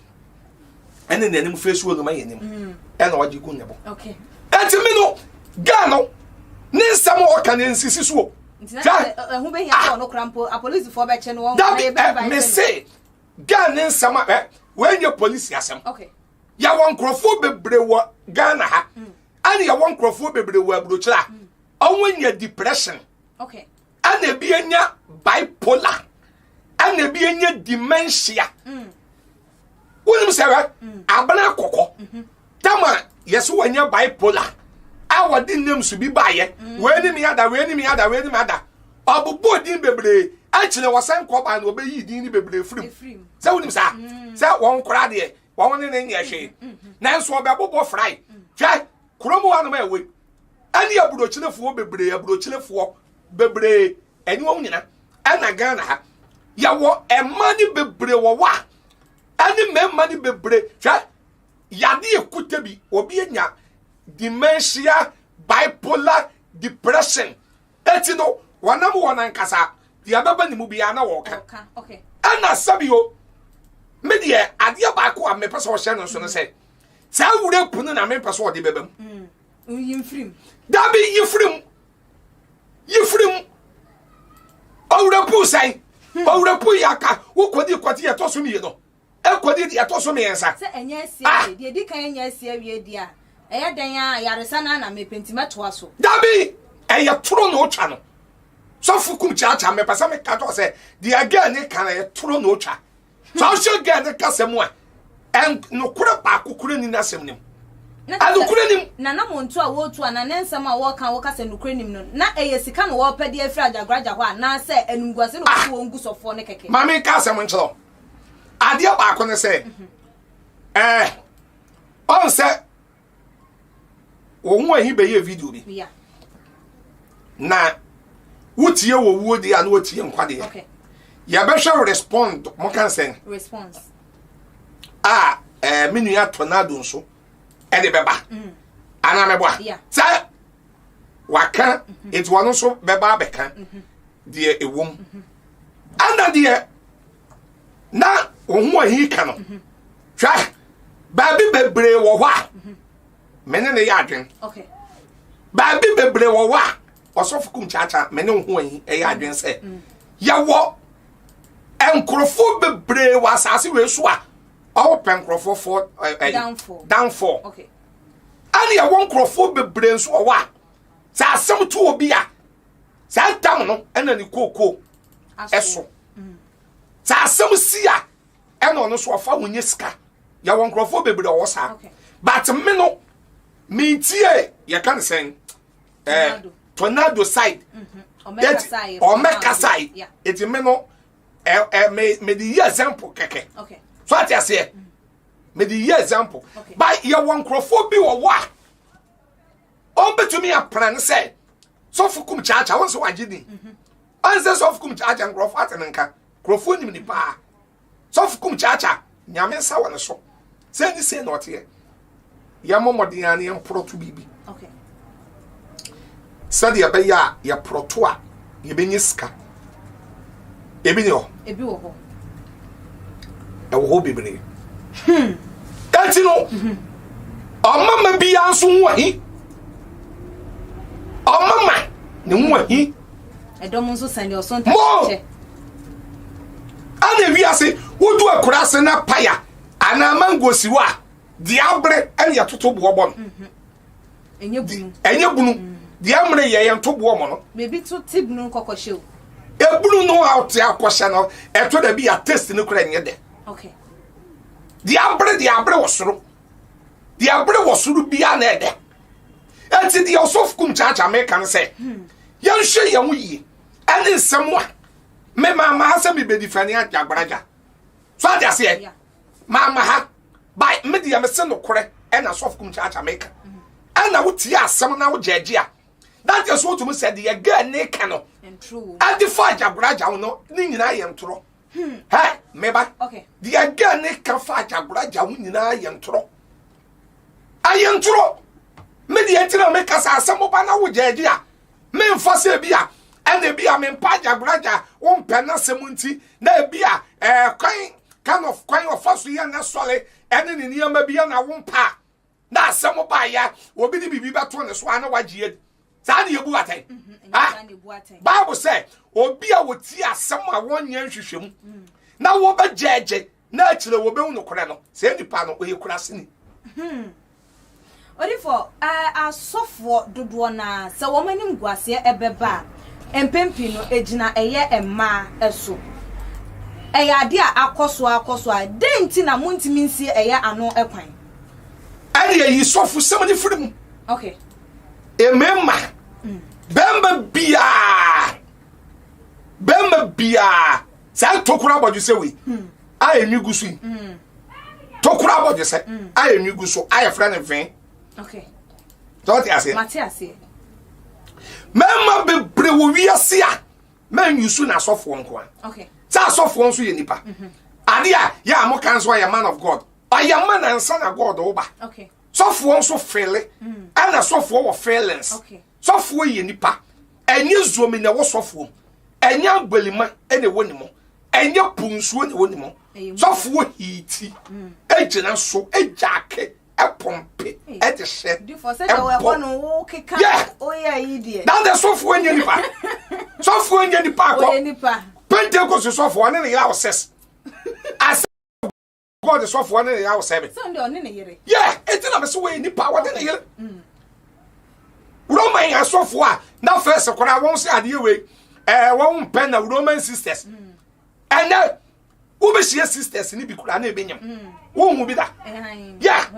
[SPEAKER 1] ɛne nea anim firi suo no ma yɛ anim mm. ɛna ɔde gu ne bo ɛnti mi
[SPEAKER 2] no
[SPEAKER 1] gaa no ne nsɛm a ɔka ne nsisi suo
[SPEAKER 2] dabi ɛ mese
[SPEAKER 1] gaa ne nsɛm a ɛ wɔnyɛ polisi asɛm yɛwɔ
[SPEAKER 2] nkurɔfoɔ
[SPEAKER 1] bebree wɔ ghana ha mm. ɛne yɛwɔ nkurɔfoɔ bebree wɔ aburokyerɛ a mm. ɔmo nya depression
[SPEAKER 2] ɛna ebi anya
[SPEAKER 1] bipolar ɛna ebi anya dementia mm. wonim sɛ wɛ mm. abena kɔkɔ mm-hmm. tama yɛsɛ wɔanya bipolar a wɔde nnam so bi baayɛ mm. wei ne me ada wei ne me ada wei ne me ada ɔbobɔ din bebree akyerɛ wɔsan kɔ baa na ɔbɛyi din ne bebree firim sɛ wonim saa sɛ wɔn koraa deɛ wɔn ne ne nyɛ hwee nanso ɔbɛbobɔ frae hwɛ Kurom hɔ anom a ɛwɔ yi, ɛne aburokyerefoɔ bebree, aburokyerefoɔ bebree, ɛne wɔn nyina, ɛna Ghana ha. Yɛwɔ ɛma ne bebree wɔ hɔ a, ɛne mmarima ne bebree, hwɛ, yade ekute bi, obi anya dementia, bipolar, depression, Enti no, wɔnam wɔn ankasa deɛ ɛbɛba ne mu biara na wɔka. Ɛna
[SPEAKER 2] sɛbio,
[SPEAKER 1] me deɛ adeɛ baako a mepɛ sɛ ɔhyɛ no nso no sɛ, saa wura punu na mempɛ sɛ ɔde bɛba mu. Mm,
[SPEAKER 2] dabi yi
[SPEAKER 1] firim, yi firim. Ɔwura puu sɛn? Hmm. Ɔwura puu yɛ aka, wokɔdi kɔgye yɛ tɔ so mmienu. Ɛkɔdi deɛ ɛtɔ so mmiɛnsa. Sɛ ɛnyɛ asi Ah! awie,
[SPEAKER 2] deɛ ɛdi kan ɛnyɛ asi awie deɛ a, ɛyɛ dɛn ara a, yaresa no ara na mepɛ nti mɛtoa so. Dabi! Ɛyɛ
[SPEAKER 1] toro na ɔtwa no. Sɔfo kum kyaakyaa, mepɛ sɛ meka kyerɛ wo sɛ, deɛ girl no ka no, ɛyɛ toro na ɔtwa. Sɛ wohwɛ girl no kasa mu a, ɛn, nokorɛ baako koraa nni n'asɛm no mu. Na kyerɛ sɛ, Anokorɛ nim.
[SPEAKER 2] na na monto a wɔretu anaa ne nsɛm a wɔreka a wɔka sɛ nokorɛ nim no, na ɛyɛ sika na wɔrepɛ de afiri agyagoraagya hɔ anaasɛ animguase na wɔpɛ sɛ wɔn gu sɔfoɔ no kɛkɛ. Ma menka asɛm nkyerɛ wo.
[SPEAKER 1] adeɛ baako ne sɛ ɛɛ eh, ɔn sɛ wɔn ho ahi bɛyɛ video bi na wotie wɔ wuo deɛ a na wotie nkwa deɛ
[SPEAKER 2] yɛbɛhwɛ
[SPEAKER 1] respond mo ka nsɛn a ɛɛ
[SPEAKER 2] eh,
[SPEAKER 1] me nua tornado nso ɛde bɛba mm. anaa mɛboa sɛ. waka nti wɔn nso bɛba abɛka deɛ ɛwɔ mu ɛna deɛ na wɔn ho ahi ka no hwɛ baabi bebree wɔ hɔ a me ne ne yɛ adwen
[SPEAKER 2] baabi
[SPEAKER 1] bebree wɔ hɔ a ɔsɔfo kum kyaakya me ne ho ahi ɛyɛ adwen sɛ yɛwɔ nkurɔfoɔ bebree wɔ asase wei so a ɔwɔ pɛ nkurɔfoɔ fɔ danfɔ. Okay.
[SPEAKER 2] ɛne ɛwɔ
[SPEAKER 1] nkurɔfoɔ bebree nso wɔ hɔ a sɛ asɛm to obi a saa ntam no ɛna ne kookoo ɛso mm. sɛ asɛm si a ɛna ɔno nso ɔfa wo nyɛ sika yɛwɔ nkurɔfoɔ bebree ɔwɔ saa but me no mentie yɛka ne sɛn eh, tornado side ɔmɛkasae mm-hmm. ɛti me no eh, eh, mede yi example kɛkɛ so ate aseɛ mm. mede yi example ba yɛwɔ nkurɔfoɔ bi wɔ hɔ a ɔmbɛtumi apena no sɛ sɔfo kum kyaakya wɔn sɛ wagye din mhm. ɔnsɛ sɔfo kum kyaakya nkurɔfoɔ ate no nka nkurɔfoɔ nim ne paa sɔfo kum kyaakya nyame nsa wɔ ne so sɛ ne sei na ɔteɛ yɛmmɔ mmɔden ara na yɛmporɔto biribi
[SPEAKER 2] sɛdeɛ
[SPEAKER 1] ɛbɛyɛ a yɛporɔto a yɛbɛnya sika ebi ne hɔ ebi wɔ hɔ ɛwɔ hɔ bebree hmm. eti no mhm. ɔmama biara nso ho ahi ɔmama ne ho ahi ɛdɔm nso
[SPEAKER 2] sɛn deɛ ɔsɔn tɛ
[SPEAKER 1] ɛna ewi ase wodu akura ase na paya anaa mango si hɔ a. deɛ abere ɛne yɛtoto boɔ bɔ no ɛnyɛ bunu deɛ mmere yɛ yɛn to boɔ mɔ no ebi to te bunu
[SPEAKER 2] kɔkɔhyɛ o ebunu no
[SPEAKER 1] a ɔte akɔhyɛ no ɛtɔ da bi yɛ test no kora nyɛ dɛ deɛ abere deɛ abere wɔ soro deɛ abere wɔ soro biara na ɛdɛ ɛti deɛ ɔsɔfo kum kyaakyaa meka no sɛ hmm. yɛnhwɛ yɛn ho yie ɛne nsɛm a mema maa sɛ mebɛdi fani agyagbaraja so ade aseɛ Mamma ha by me deɛ mese nokorɛ ɛna sɔfo kum kyaakya meka ɛna wotie asɛm na wogyɛgye a that is what mu sɛ deɛ girl ne ka no ɛde fa
[SPEAKER 2] agyagoragyaw
[SPEAKER 1] no ne nyinaa yɛ ntorɔ hmm. hɛ meba deɛ girl
[SPEAKER 2] ne
[SPEAKER 1] ka fa agyagoragyaw nyinaa yɛ ntorɔ ayɛ ntorɔ me deɛ nti na meka sɛ asɛm ba na wogyɛgye a Memfa sɛ ebi a ɛna ebi a mempa agyabragya wompɛ n'asɛm nti na ebi a ɛɛ eh, kwan kind of kwan ɔfa so yɛ n'asɔre ɛne ne nneɛma bi na wompa a na asɛm baayɛ obi de biribi bɛto ne so a na wagye adi saa ne yɛbu atɛn mhm, ah, bible sɛ obi a wɔtie asɛm a wɔnyɛ nhwehwɛmu mm. na wɔbɛgyaagye na akyire wɔbɛhu nokorɛ no, saa nipa no, ɔyɛ kuraseni. Hmm.
[SPEAKER 2] Odifoɔ, eh, asɔfoɔ dodoɔ no ara, sɛ wɔn animguaseɛ bɛba a, mpɛn pii no, ɛgyina ɛyɛ mmaa so. Ɛyɛ adeɛ a akɔ so ara kɔ so ara. Dɛn nti na montumi nsie ɛyɛ ano kwan? Ɛdeɛ
[SPEAKER 1] yi sɔfosɛm no firi mu. Okay.
[SPEAKER 2] Mmarima,
[SPEAKER 1] mm. bɛrima biara, bɛrima biara saa tokoro abɔdwesɛ wei a ɛnwi gu so yi tokoro abɔdwesɛ a ɛnwi gu so a yɛfrɛ no vee
[SPEAKER 2] sɛ wote
[SPEAKER 1] aseɛ mɛma bebree wɔ wiase a mɛnwi so na asɔfoɔ nko a sɛ asɔfoɔ
[SPEAKER 2] nso yɛ
[SPEAKER 1] nnipa mhm. adeɛ a yɛ a moka nso ɔyɛ man of god ɔyɛ ma nansa na god woba sɔfoɔ
[SPEAKER 2] nso
[SPEAKER 1] fele ɛna mm. sɔfoɔ wɔ feelings Sɔfoɔ
[SPEAKER 2] yɛ nipa
[SPEAKER 1] ɛnyɛ zuomi na ɛwɔ sɔfoɔ mu ɛnyɛ abalima na ɛwɔ ne mu ɛnyɛ po nsuo na ɛwɔ ne mu sɔfoɔ hiiti gyina so gyaake pɔmpe ɛde hyɛ ɛmpɔ
[SPEAKER 2] yɛ dada sɔfoɔ nyɛ
[SPEAKER 1] nipa sɔfoɔ nyɛ nipa akɔ pentekosi sɔfoɔ ɔne ne yɛ awosɛs ase. God sɔfoɔ ne ne yere awosɛe me. Sɛ ɔno deɛ ɔne ne yere. Yɛ
[SPEAKER 2] eti na mesi
[SPEAKER 1] wɔyɛ nipa a wɔne ne yere. Mm. Roman asɔfoɔ a na fɛs koraa wɔn sɛ adeɛ wei ɛɛ eh, wɔn mpɛ na Roman sisters. Mm. Ɛnɛ wobɛhyia sisters ne bi koraa na ɛbɛnyam. Mm. Wohu bi da. Yɛ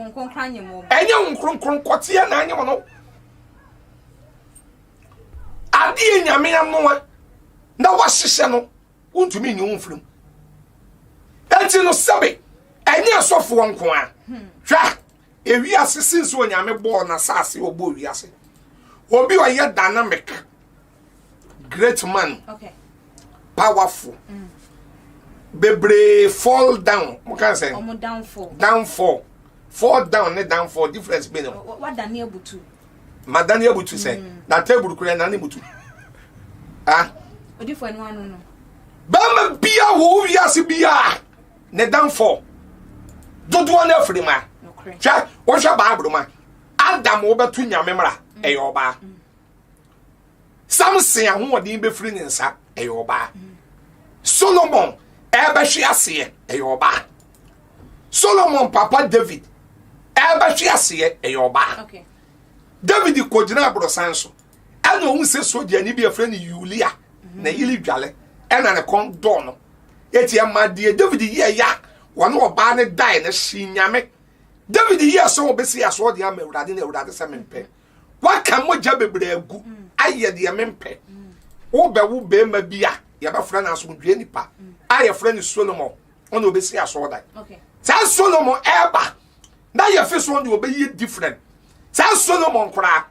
[SPEAKER 2] ɛnyɛ wo nkronkron
[SPEAKER 1] kɔteɛ na anyam no. Adeɛ nyame anoa na wahyehyɛ no wontumi nyi wo mfiri mu ɛnti no sɛbe ɛnyɛ asɔfoɔ nko a hmm. hwɛ ewiase sinsi onyame bɔɔ na saase ɔbɔ ewiase obi ɔyɛ dana meka great man okay.
[SPEAKER 2] powerful
[SPEAKER 1] mm. bebree fall down mo kan sɛ downfall downfall fall down ne downfall difference bi ne ho wadane abutu
[SPEAKER 2] ma dan yɛ
[SPEAKER 1] butu sɛ mm. na table kura na ne butu ah odifo anu
[SPEAKER 2] anu no bɛma
[SPEAKER 1] bia wo wiase bia ne danfo dodoɔ no afiri ma hwɛ wohwɛ bible ma adam wobɛto nyame mmara mm. ɛyɛ ɔbaa mm. samson ahoɔden bɛfiri ne nsa ɛyɛ ɔbaa solomon ɛbɛhwe aseɛ ɛyɛ ɔbaa solomon papa david ɛbɛhwe aseɛ ɛyɛ ɔbaa
[SPEAKER 2] david
[SPEAKER 1] kɔgyina aborosan so ɛna ɔhu sɛ sogyani bi afrɛ no yulia na mhm. yili dwale ɛna ne kɔn dɔɔ no ɛti ɛma deɛ david yɛ ya wɔne ɔbaa no dae no hye nyame david yɛ sɛ wɔbɛsi asoɔ deɛ ama awurade na awurade sɛ mempɛ waka mogya bebree agu mm. ayɛ deɛ mempɛ mm. wobɛwo bɛrima bi a yɛbɛfrɛ no asomdwoe nipa a yɛfrɛ no solomon ɔna ɔbɛsi asɔɔdan saa
[SPEAKER 2] solomon
[SPEAKER 1] ɛba na yɛfe so ɔna ɔbɛyɛ different saa solomon koraa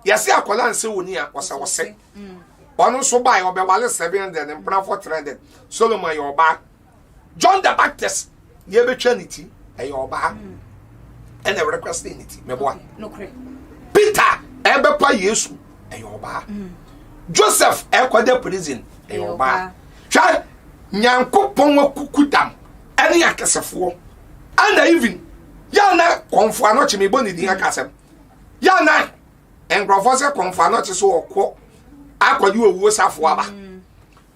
[SPEAKER 1] yɛse akɔla nsɛ wɔni a ɔsɛ ɔsɛ ɔno nso bae ɔbɛwale 700 ne mpenafoɔ 300 solomon ɛyɛ ɔbaa john the baptist deɛ ɛbɛtwa ne ti ɛyɛ ɔbaa ɛna ɛwɛrɛ kora sɛ ne ti mɛboa
[SPEAKER 2] peter
[SPEAKER 1] ɛbɛpa yesu ɛyɛ ɔbaa joseph ɛkɔda prison ɛyɛ ɔbaa Hwɛ, Nyankopɔn akuku dam ne akɛsefoɔ. Ɛna even, yɛ a na kɔmfo anɔkye, mebɔ ne din aka asɛm, yɛ a na nkurɔfoɔ sɛ kɔmfo anɔkye so ɔkɔ akɔgye owuo safo aba. Mm.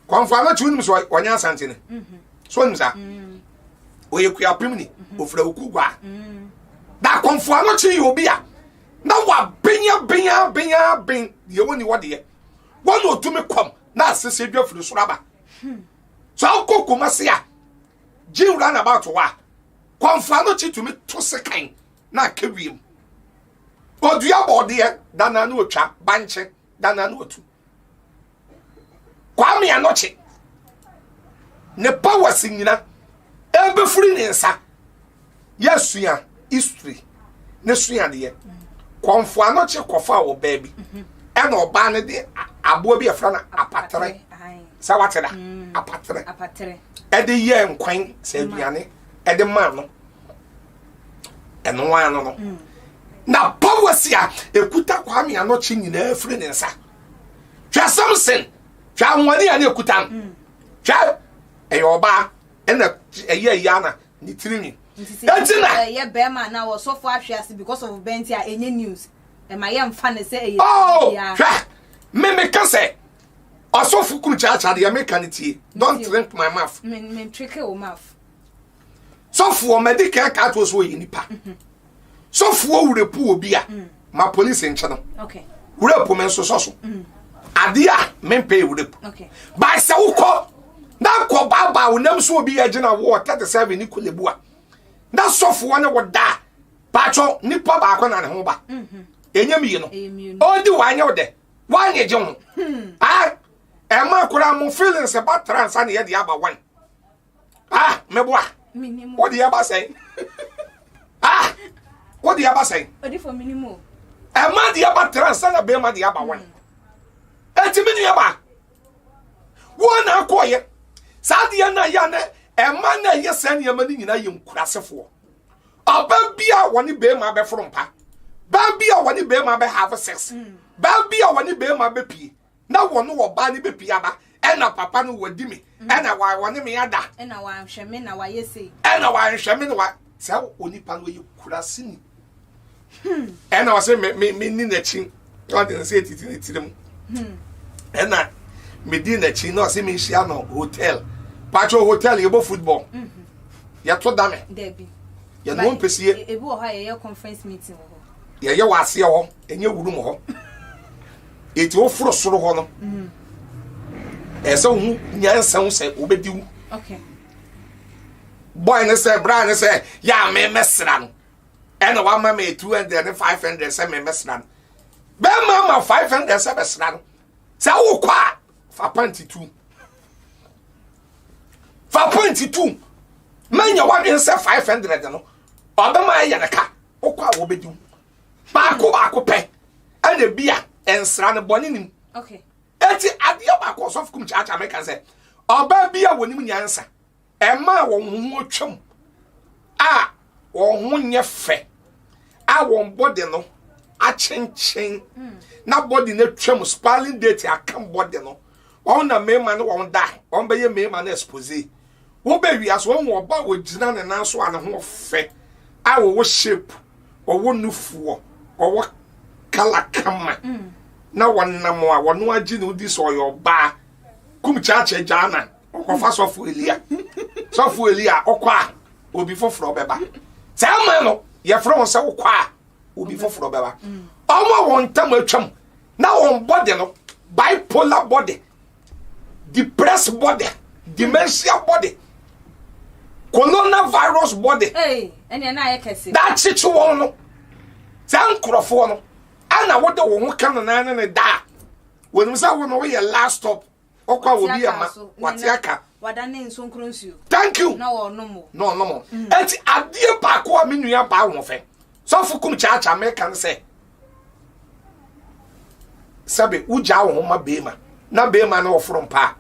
[SPEAKER 1] Kɔmfo anɔkye wonim sɛ ɔnyɛ asantene. Mm-hmm. So wonim saa? Mm. Ɔyɛ kuapem ni, mm-hmm. ɔfira oku gua. Mm. Da kɔmfo anɔkye yɛ obi a na wabenyabenya benya ben deɛ wɔni wɔdeɛ wɔn na ɔtumi kɔm na asese dwa firi soro aba so akɔ kumase a gyew run about hɔ a kɔnfoa no kyi tumi to sekan na aka wiem odua bɔɔdeɛ dana no otwa bankye dana no otu kwame anɔkye ne powers nyina ɛbɛfiri ne nsa yɛsua history ne suadeɛ kɔnfo ano kye kɔfa wɔ baa bi mhm. ɛna ɔbaa no de aboa bi ɛfra no apatere sɛ wate da mm. apatere ɛde yɛ nkwan sɛ aduane ɛde maa no ɛno ara no no mm. na powers a ekuta kwame anokye nyinaa firi ne nsa hwɛ samson hwɛ ahoɔden a ne ekuta no mm. hwɛ ɛyɛ ɔbaa ɛna ɛyɛ yana ne tirinwi. Nti sɛ Enti na ɛyɛ ɛyɛ
[SPEAKER 2] bɛrima anaa ɔsɔfo ahwe ase because of bɛn nti a ɛnyɛ news. Ɛma yɛmfa no sɛ ɛyɛ oh, biribi a.
[SPEAKER 1] hwɛ me meka sɛ ɔsɔfo kunu kyaakyaa deɛ meka no tie don't Nti o, drink my mouth me me ntweke wo
[SPEAKER 2] maf.
[SPEAKER 1] sɔfo ɔmadi kan ka to so ɔyɛ nipa sɔfoɔ wura pu obi a mm. ma polisi nkyɛ no wura pu
[SPEAKER 2] me nso sɔ
[SPEAKER 1] so mm. adeɛ a mempɛ
[SPEAKER 2] wura
[SPEAKER 1] pu baa sɛ wokɔ na nkɔ baabaa wo nam so obi yɛ gyina woɔ tɛte sɛ awe ne kolebu a na sɔfoɔ ne wo daa baatwɔ nipa baako na ne ho ba mhm. ɛnyɛ mmienu ɔdi wanyɛ wo dɛ wanyɛ gye ho hmm. ah, ɛma koraa mo feelings ba tra nsa ne yɛde aba wan ah mɛboa wode ɛba sɛn ah wode ɛba sɛn
[SPEAKER 2] ɛma de ɛba
[SPEAKER 1] tra nsa na bɛrima de ɛba wɔn ɛtumi ne ɛba wɔn na akɔɔyɛ saa deɛ na yɛ anɛ ɛma na ɛyɛ saa nneɛma no nyinaa yɛ nkurasefoɔ ɔba bi a wɔne bɛrima bɛforo mpa baa bi a wɔne bɛrima bɛhave sex baa bi a wɔne bɛrima bɛpie na wɔne ɔbaa no bɛpie aba ɛna papa no wadi me mm. ɛna wɔne me ada ɛna wanhwɛ me na
[SPEAKER 2] wayɛ sei ɛna wanhwɛ me na
[SPEAKER 1] wa sɛ onipa no yɛ kurasini hmm. ɛna wɔsɛ me me me ni n'akyi ɔde ne nsa titi ne tirim hmm. ɛna me di n'akyi na ɔsɛ me nhyia no hotel patro hotel yɛbɔ football hmm. yɛto dame
[SPEAKER 2] yɛne wɔn pɛsie
[SPEAKER 1] ebi wɔ hɔ a yɛyɛ
[SPEAKER 2] conference meeting wɔ hɔ yɛyɛ wɔ aseɛ
[SPEAKER 1] hɔ. ɛnyɛ wuru mu hɔ eti woforo soro hɔ no mm. ɛsɛ wo ho nyansa ho sɛ wobɛdi wo bɔe ne sɛ bra ne sɛ yɛ a memɛsra no ɛna wama me 200 ne 500 sɛ memɛsra no bɛma ma 500 sɛ bɛsra no sɛ wokɔ a fa panti tu fa panti tu manya wadwen sɛ 500 no ɔbɛma ɛyɛ ne ka wokɔ a wɔbɛdi wo Baako baako pɛ ɛna ebi a nsra no bɔne nim. Okay. Eti
[SPEAKER 2] adeɛ
[SPEAKER 1] baako ɔsɔfo kum kyaakyaa mɛka sɛ ɔbaa bi a wɔnim nyansa ɛmaa wɔn ho atwam a wɔn ho nyɛ fɛ a wɔn bɔde no akyenkyen hmm. na bɔde no atwam spalling date akam bɔde no wɔn na mmarima ne wɔn da wɔn bɛyɛ mmarima no expose wobɛ wia so wɔn wɔ ɔba a ɔgyina ne nan so a ne ho fɛ a ɔwɔ shape ɔwɔ nufoɔ ɔwɔ kala kama mm. na wɔnam a wɔno agye ne wodi sɛ ɔyɛ ɔbaa kum kyakyɛ gyaana ɔkɔfa sɔfo elia sɔfo elia ɔkɔ a obi foforɔ bɛba saa ama no yɛfrɛ wɔn sɛ wokɔ a obi foforɔ bɛba mm. ɔmo a wɔn ntam atwam Na wɔn bɔde no, bipolar bɔde, depressed bɔde, dementia bɔde, coronavirus bɔde,
[SPEAKER 2] da kyekye wɔn no.
[SPEAKER 1] Saa nkurɔfoɔ no, ɛna wode wo ho ka no naa ne ne da a, wɔnim sɛ wo no woyɛ last stop. ɔkɔ a obi ama wate aka wada ne nsonkoro
[SPEAKER 2] nsuo thank you na ɔnom
[SPEAKER 1] mo na ɔnom
[SPEAKER 2] mo mm. eti
[SPEAKER 1] adeɛ baako a me nua baa wɔn fɛ sɔfo kum kyaakya mɛka no sɛ sɛbe wogyaa wo ho ma beema na beema no ɔforo mpa a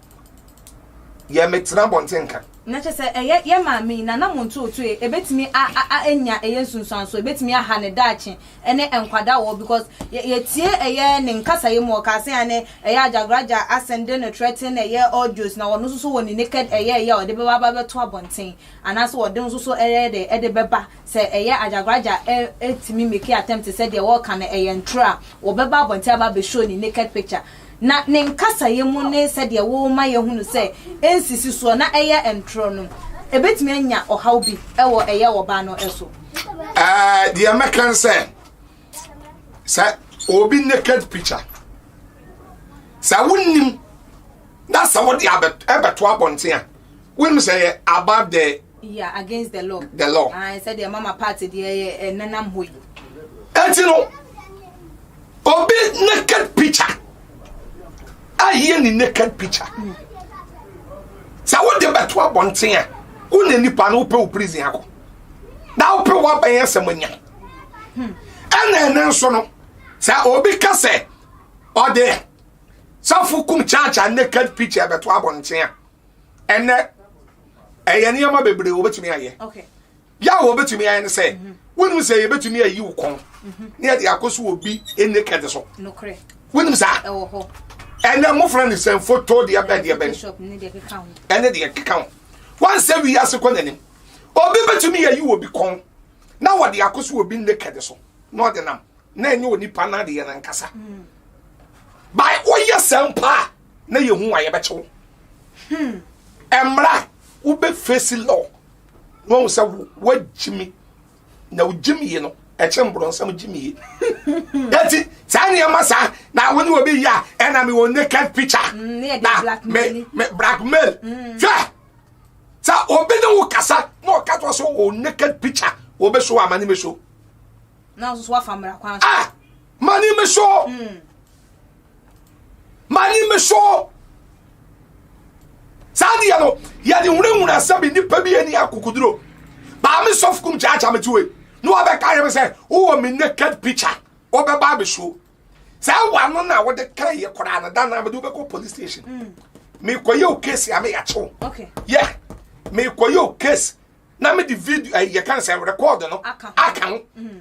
[SPEAKER 1] yɛ metena bɔnten nka na kyɛ sɛ ɛyɛ
[SPEAKER 2] yɛ maame yi nana mo ntootoo ebetumi a a anya ɛyɛ nsunsuanso ebetumi aha ne daakye ɛne nkwadaa wɔ because yɛ yɛtie ɛyɛ ne nkasaeɛ mu ɔkaa sɛ ane ɛyɛ agyagraja asen de no threaten ɛyɛ audios na ɔno nso so wɔ ne naked ɛyɛ ɛyɛ a ɔde bɛba aba bɛto abɔnten anaasɛ ɔde nso so ɛyɛ de ɛde bɛba sɛ ɛyɛ agyagraja ɛ ɛtumi make attempt sɛ deɛ ɔɔka no ɛyɛ ntorɔ a ɔbɛba abɔnten aba abɛ show ne naked picture na ne nkasaeɛ mu ne sɛdeɛ woma yɛhunu sɛ ɛnsisi soɔ na ɛyɛ ntorɔ no, ɛbɛtumi anya ɔhaw bi wɔ ɛyɛ ɔbaa no so. Uh, the
[SPEAKER 1] American said, sir, obi naked picture. Sir, wouldn't that's what the Abbott Abbott Wabontia. Wonim sɛ yɛ about the. Yeah, against the law.
[SPEAKER 2] The law. Ah, sɛ deɛ mama party deɛ yɛ eh, nanam hɔ yi. Ɛti no,
[SPEAKER 1] obi naked picture ayɛ ne naked picture. Mm. Sɛ wode bɛto abɔnten a, wo na nipa no wopɛ wo prison akɔ. Na wopɛ woabɛn asɛm anya. Hmm. Ɛna ɛne nso no, sɛ obi ka sɛ ɔde sɔfo kum kyakya naked picture bɛto abɔnten a, ɛnɛ ɛyɛ nneɛma bebree wɔbɛtumi ayɛ yɛ a
[SPEAKER 2] wɔbɛtumi
[SPEAKER 1] ayɛ no sɛ mhm. wonim sɛ yɛbɛtumi ayi wo kɔn mhm. ne yɛde akɔ so wɔ bi ɛnne kɛde so wonim
[SPEAKER 2] saa ɛnɛ mofrɛ
[SPEAKER 1] ne sɛ foto deɛ bɛn deɛ bɛn
[SPEAKER 2] ɛne deɛ keka ho
[SPEAKER 1] wansɛ wi ase kɔ n'anim obi bɛtumi yɛyi wɔ bi kɔn na wɔde akɔ so wɔ bi nne kɛde so na ɔde nam na ɛnyɛ onipa no adeɛ no ankasa mm. bae woyɛ sɛ mpa a na yɛhu a yɛbɛkye wo ɛmmra wobɛfesi law na wahu sɛ woagyimi na wogyimie no ɛkye mborɔnsɛm gyimie ɛti saa nneɛma saa na wo ne wɔ bɛyi a ɛna mewɔ naked picture mm, na me blackmail mm. hwɛ sɛ obi ne wo kasa na ɔka to sɛ wɔ naked picture wɔbɛso a mane mɛso
[SPEAKER 2] ah,
[SPEAKER 1] mane mɛso mm. mani me so saa deɛ no yɛde hunahuna sɛ me nipa bi ani akokoduro baa me sɔfo kum kyaakya me tiwe na wabɛka yɛ me sɛ wowɔ me naked picture wɔbɛba me so saa wa no na wode ka yɛ koraa no da na mede wobɛkɔ police station mm. mekɔyɛ o case a meyɛkyew yɛ mekɔyɛ o case na mede video eh, yɛka sɛ record no aka ho mm.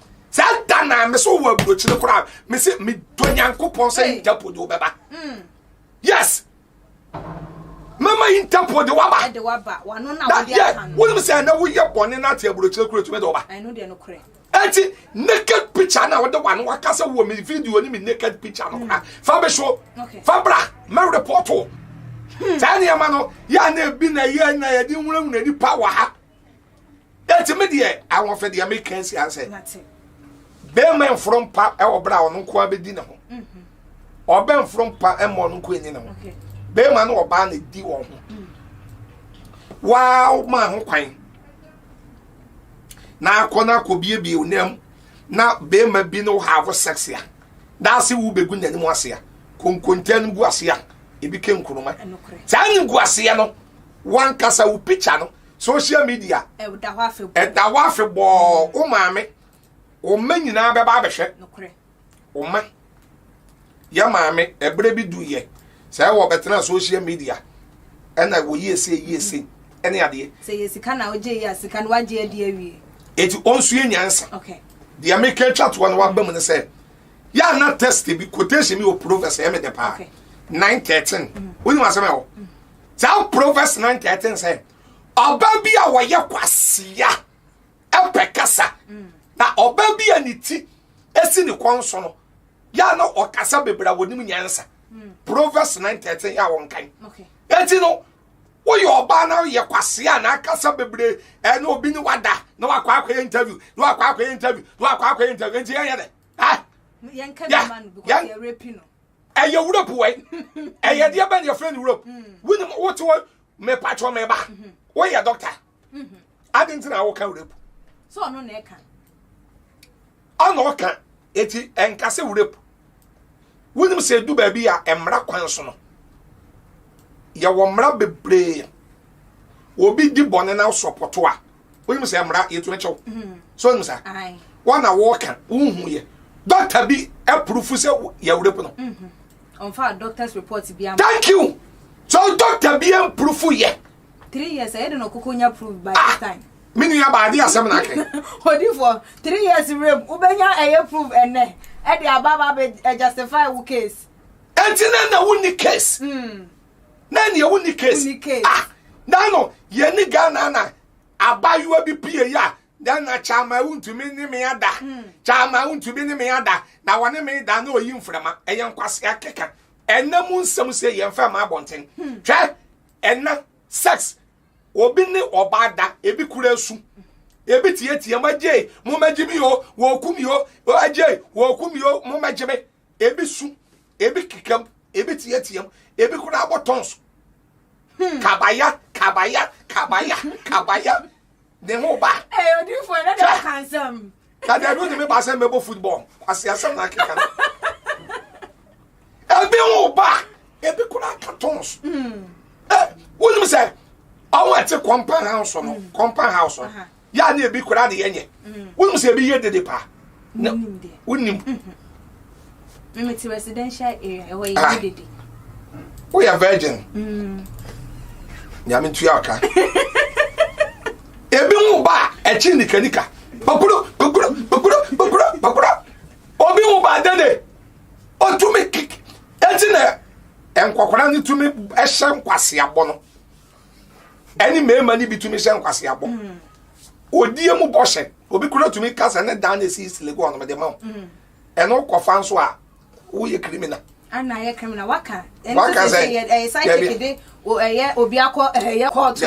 [SPEAKER 1] saa da na me so wɔ aburokyire koraa me se me dɔ nyankopɔn sɛ interpol de wobɛba mm. yes mɛma interpol de waba na
[SPEAKER 2] yɛ wonim sɛ ɛnɛ woyɛ
[SPEAKER 1] bɔne no ate aburokyire kora tumi de woba
[SPEAKER 2] ɛnti
[SPEAKER 1] naked picture na wode wa no waka sɛ wɔ me video ne me naked picture no kora mm. fa me so fa bra mɛ report o hmm. saa nneɛma no yɛ a na ebi na yɛ na yɛde nwunawuna nipa wɔ ha ɛti me deɛ awɔfɛ deɛ me kɛn si asɛ bɛrima nforo mpa ɛwɔ bere a ɔno nko abɛdi ne ho mhm. ɔbɛ nforo mpa ɛma ɔno nko enyi ne ho bɛrima ne ɔbaa na edi wɔn ho mm. waa maa ho kwan na akɔ na akɔ biebie onam na bɛrima bi no have sex a daase wo bɛgu n'anim ase a konkonta no gu ase a ebi kɛ nkuruma saa ne gu ase no wankasa wo picture no social media ɛda hɔ afebɔɔ
[SPEAKER 2] ɛda hɔ afebɔɔ mm.
[SPEAKER 1] wo maame wo mma nyinaa bɛba abɛhwɛ wo ma yɛ maame ɛberɛ bi du yɛ sɛ ɛwɔ bɛtena social media ɛna wɔ yie se yie se ɛne adeɛ sɛ yɛ sika na wogye yɛ
[SPEAKER 2] sika no wagye adi awie eti ɔnsue
[SPEAKER 1] nyansa deɛ
[SPEAKER 2] meka twa
[SPEAKER 1] toɔ no waba mu no sɛ yɛ ana test bi quotation bi wɔ proverbs ɛmɛ dɛ paa nine thirteen wonim asɛm ɛwɔ Saa Proverbs 19 sɛ ɔbaa bi a ɔyɛ kwasea ɛpɛ kasa mm. na ɔbaa bi a ne ti esi ne kɔn so no yɛ na ɔkasa bebree a wɔnim nyansa mm. Proverbs 9:13 yɛ a wɔnkan eti no woyɛ ɔbaa na woyɛ kwasea na akasa bebree ɛne obi ne wada na wakɔ akɔyɛ interview na wakɔ akɔyɛ interview na wakɔ akɔyɛ interview nti yɛnyɛ dɛ ah yɛnka bi ma
[SPEAKER 2] no because yɛrepi no. ɛyɛ wura bu
[SPEAKER 1] wai ɛyɛ deɛ bɛn yɛfrɛ no wura wonim wote hɔ mepatwɔ meba woyɛ dɔkta ade nti na woka wura bu ɔna ɔka ɛti ɛnka sɛ wura bu wonim sɛ ɛdu baabi a mmara kwan so no yɛwɔ mmara bebree obi di bɔne na sɔpɔto a wonim sɛ mmara yɛtumi kyɛw so wonim saa wɔn na wɔka wohu yɛ dɔkta bi apurufu sɛ yɛwura pu no ɔmfa
[SPEAKER 2] doctor's report bi ama thank you
[SPEAKER 1] so dɔkta bi apurufu yɛ three years ɛyɛ
[SPEAKER 2] de na ɔkoko nya proof by ah, this time me nua baade
[SPEAKER 1] asɛm na akɛ odifoɔ
[SPEAKER 2] three years rem wobɛnya ɛyɛ proof ɛnɛ ɛde aba ba bɛ justify wo case ɛnti na na
[SPEAKER 1] wonni case mm. na nea wo ni case ah na no yɛ ni Ghana na abayewa bi pie yi a dan na kyama ewu ntumi ne me ada kyama hmm. ewu ntumi ne me ada na wɔne me da na oyi mframa ɛyɛ nkwasi akeka ɛnna mu nsɛm sɛ yɛn fɛn ma abɔnten hmm. hwɛ ɛnna sex obi ne ɔbaa da ebi kura esu ebi tietie mo agye mo ma gye mi o wɔku mi o agye wɔku mi o mo ma gye mi ebi su ebi kekam ebi teateam ebi koraa bɔ tɔn so hmm. kabaya kabaya kabaya kabaya ne ho ba. ɛyɛ odiifo ɛna de
[SPEAKER 2] ɔka nsɛm. kadi ɛbi ntumi
[SPEAKER 1] ba sɛ mbɛbɔ football kwasi asɛm na akeka no ebi ho ba ebi koraa ka tɔn so. Hmm. ɛ wọnum sɛ ɔwọ ɛte compound house no hmm. compound house no. yɛ a ne ebi koraa ne yɛnyɛ wonim sɛ ebi yɛ dede paa na wonim
[SPEAKER 2] mmete residential area ɛhɔ yɛ ah. dede
[SPEAKER 1] woyɛ virgin mm. nyame ntua ɔka ebi ho ba a ɛkyi nikanika bakuro bakuro bakuro bakuro bakuro obi ho ba dede ɔtumi kik ɛti na nkɔkora no tumi ɛhyɛ nkwaseabɔ no ɛne mmarima no bi tumi hyɛ nkwaseabɔ mm. odie mu bɔhyɛ obi kura tumi kasa ne dan na esi silegu ɔnom de ma wo mm. ɛno kɔfa nso a woyɛ criminal ana yɛ criminal
[SPEAKER 2] waka waka sɛ ɛyɛ side chick de ɛyɛ obi akɔ ɛyɛ court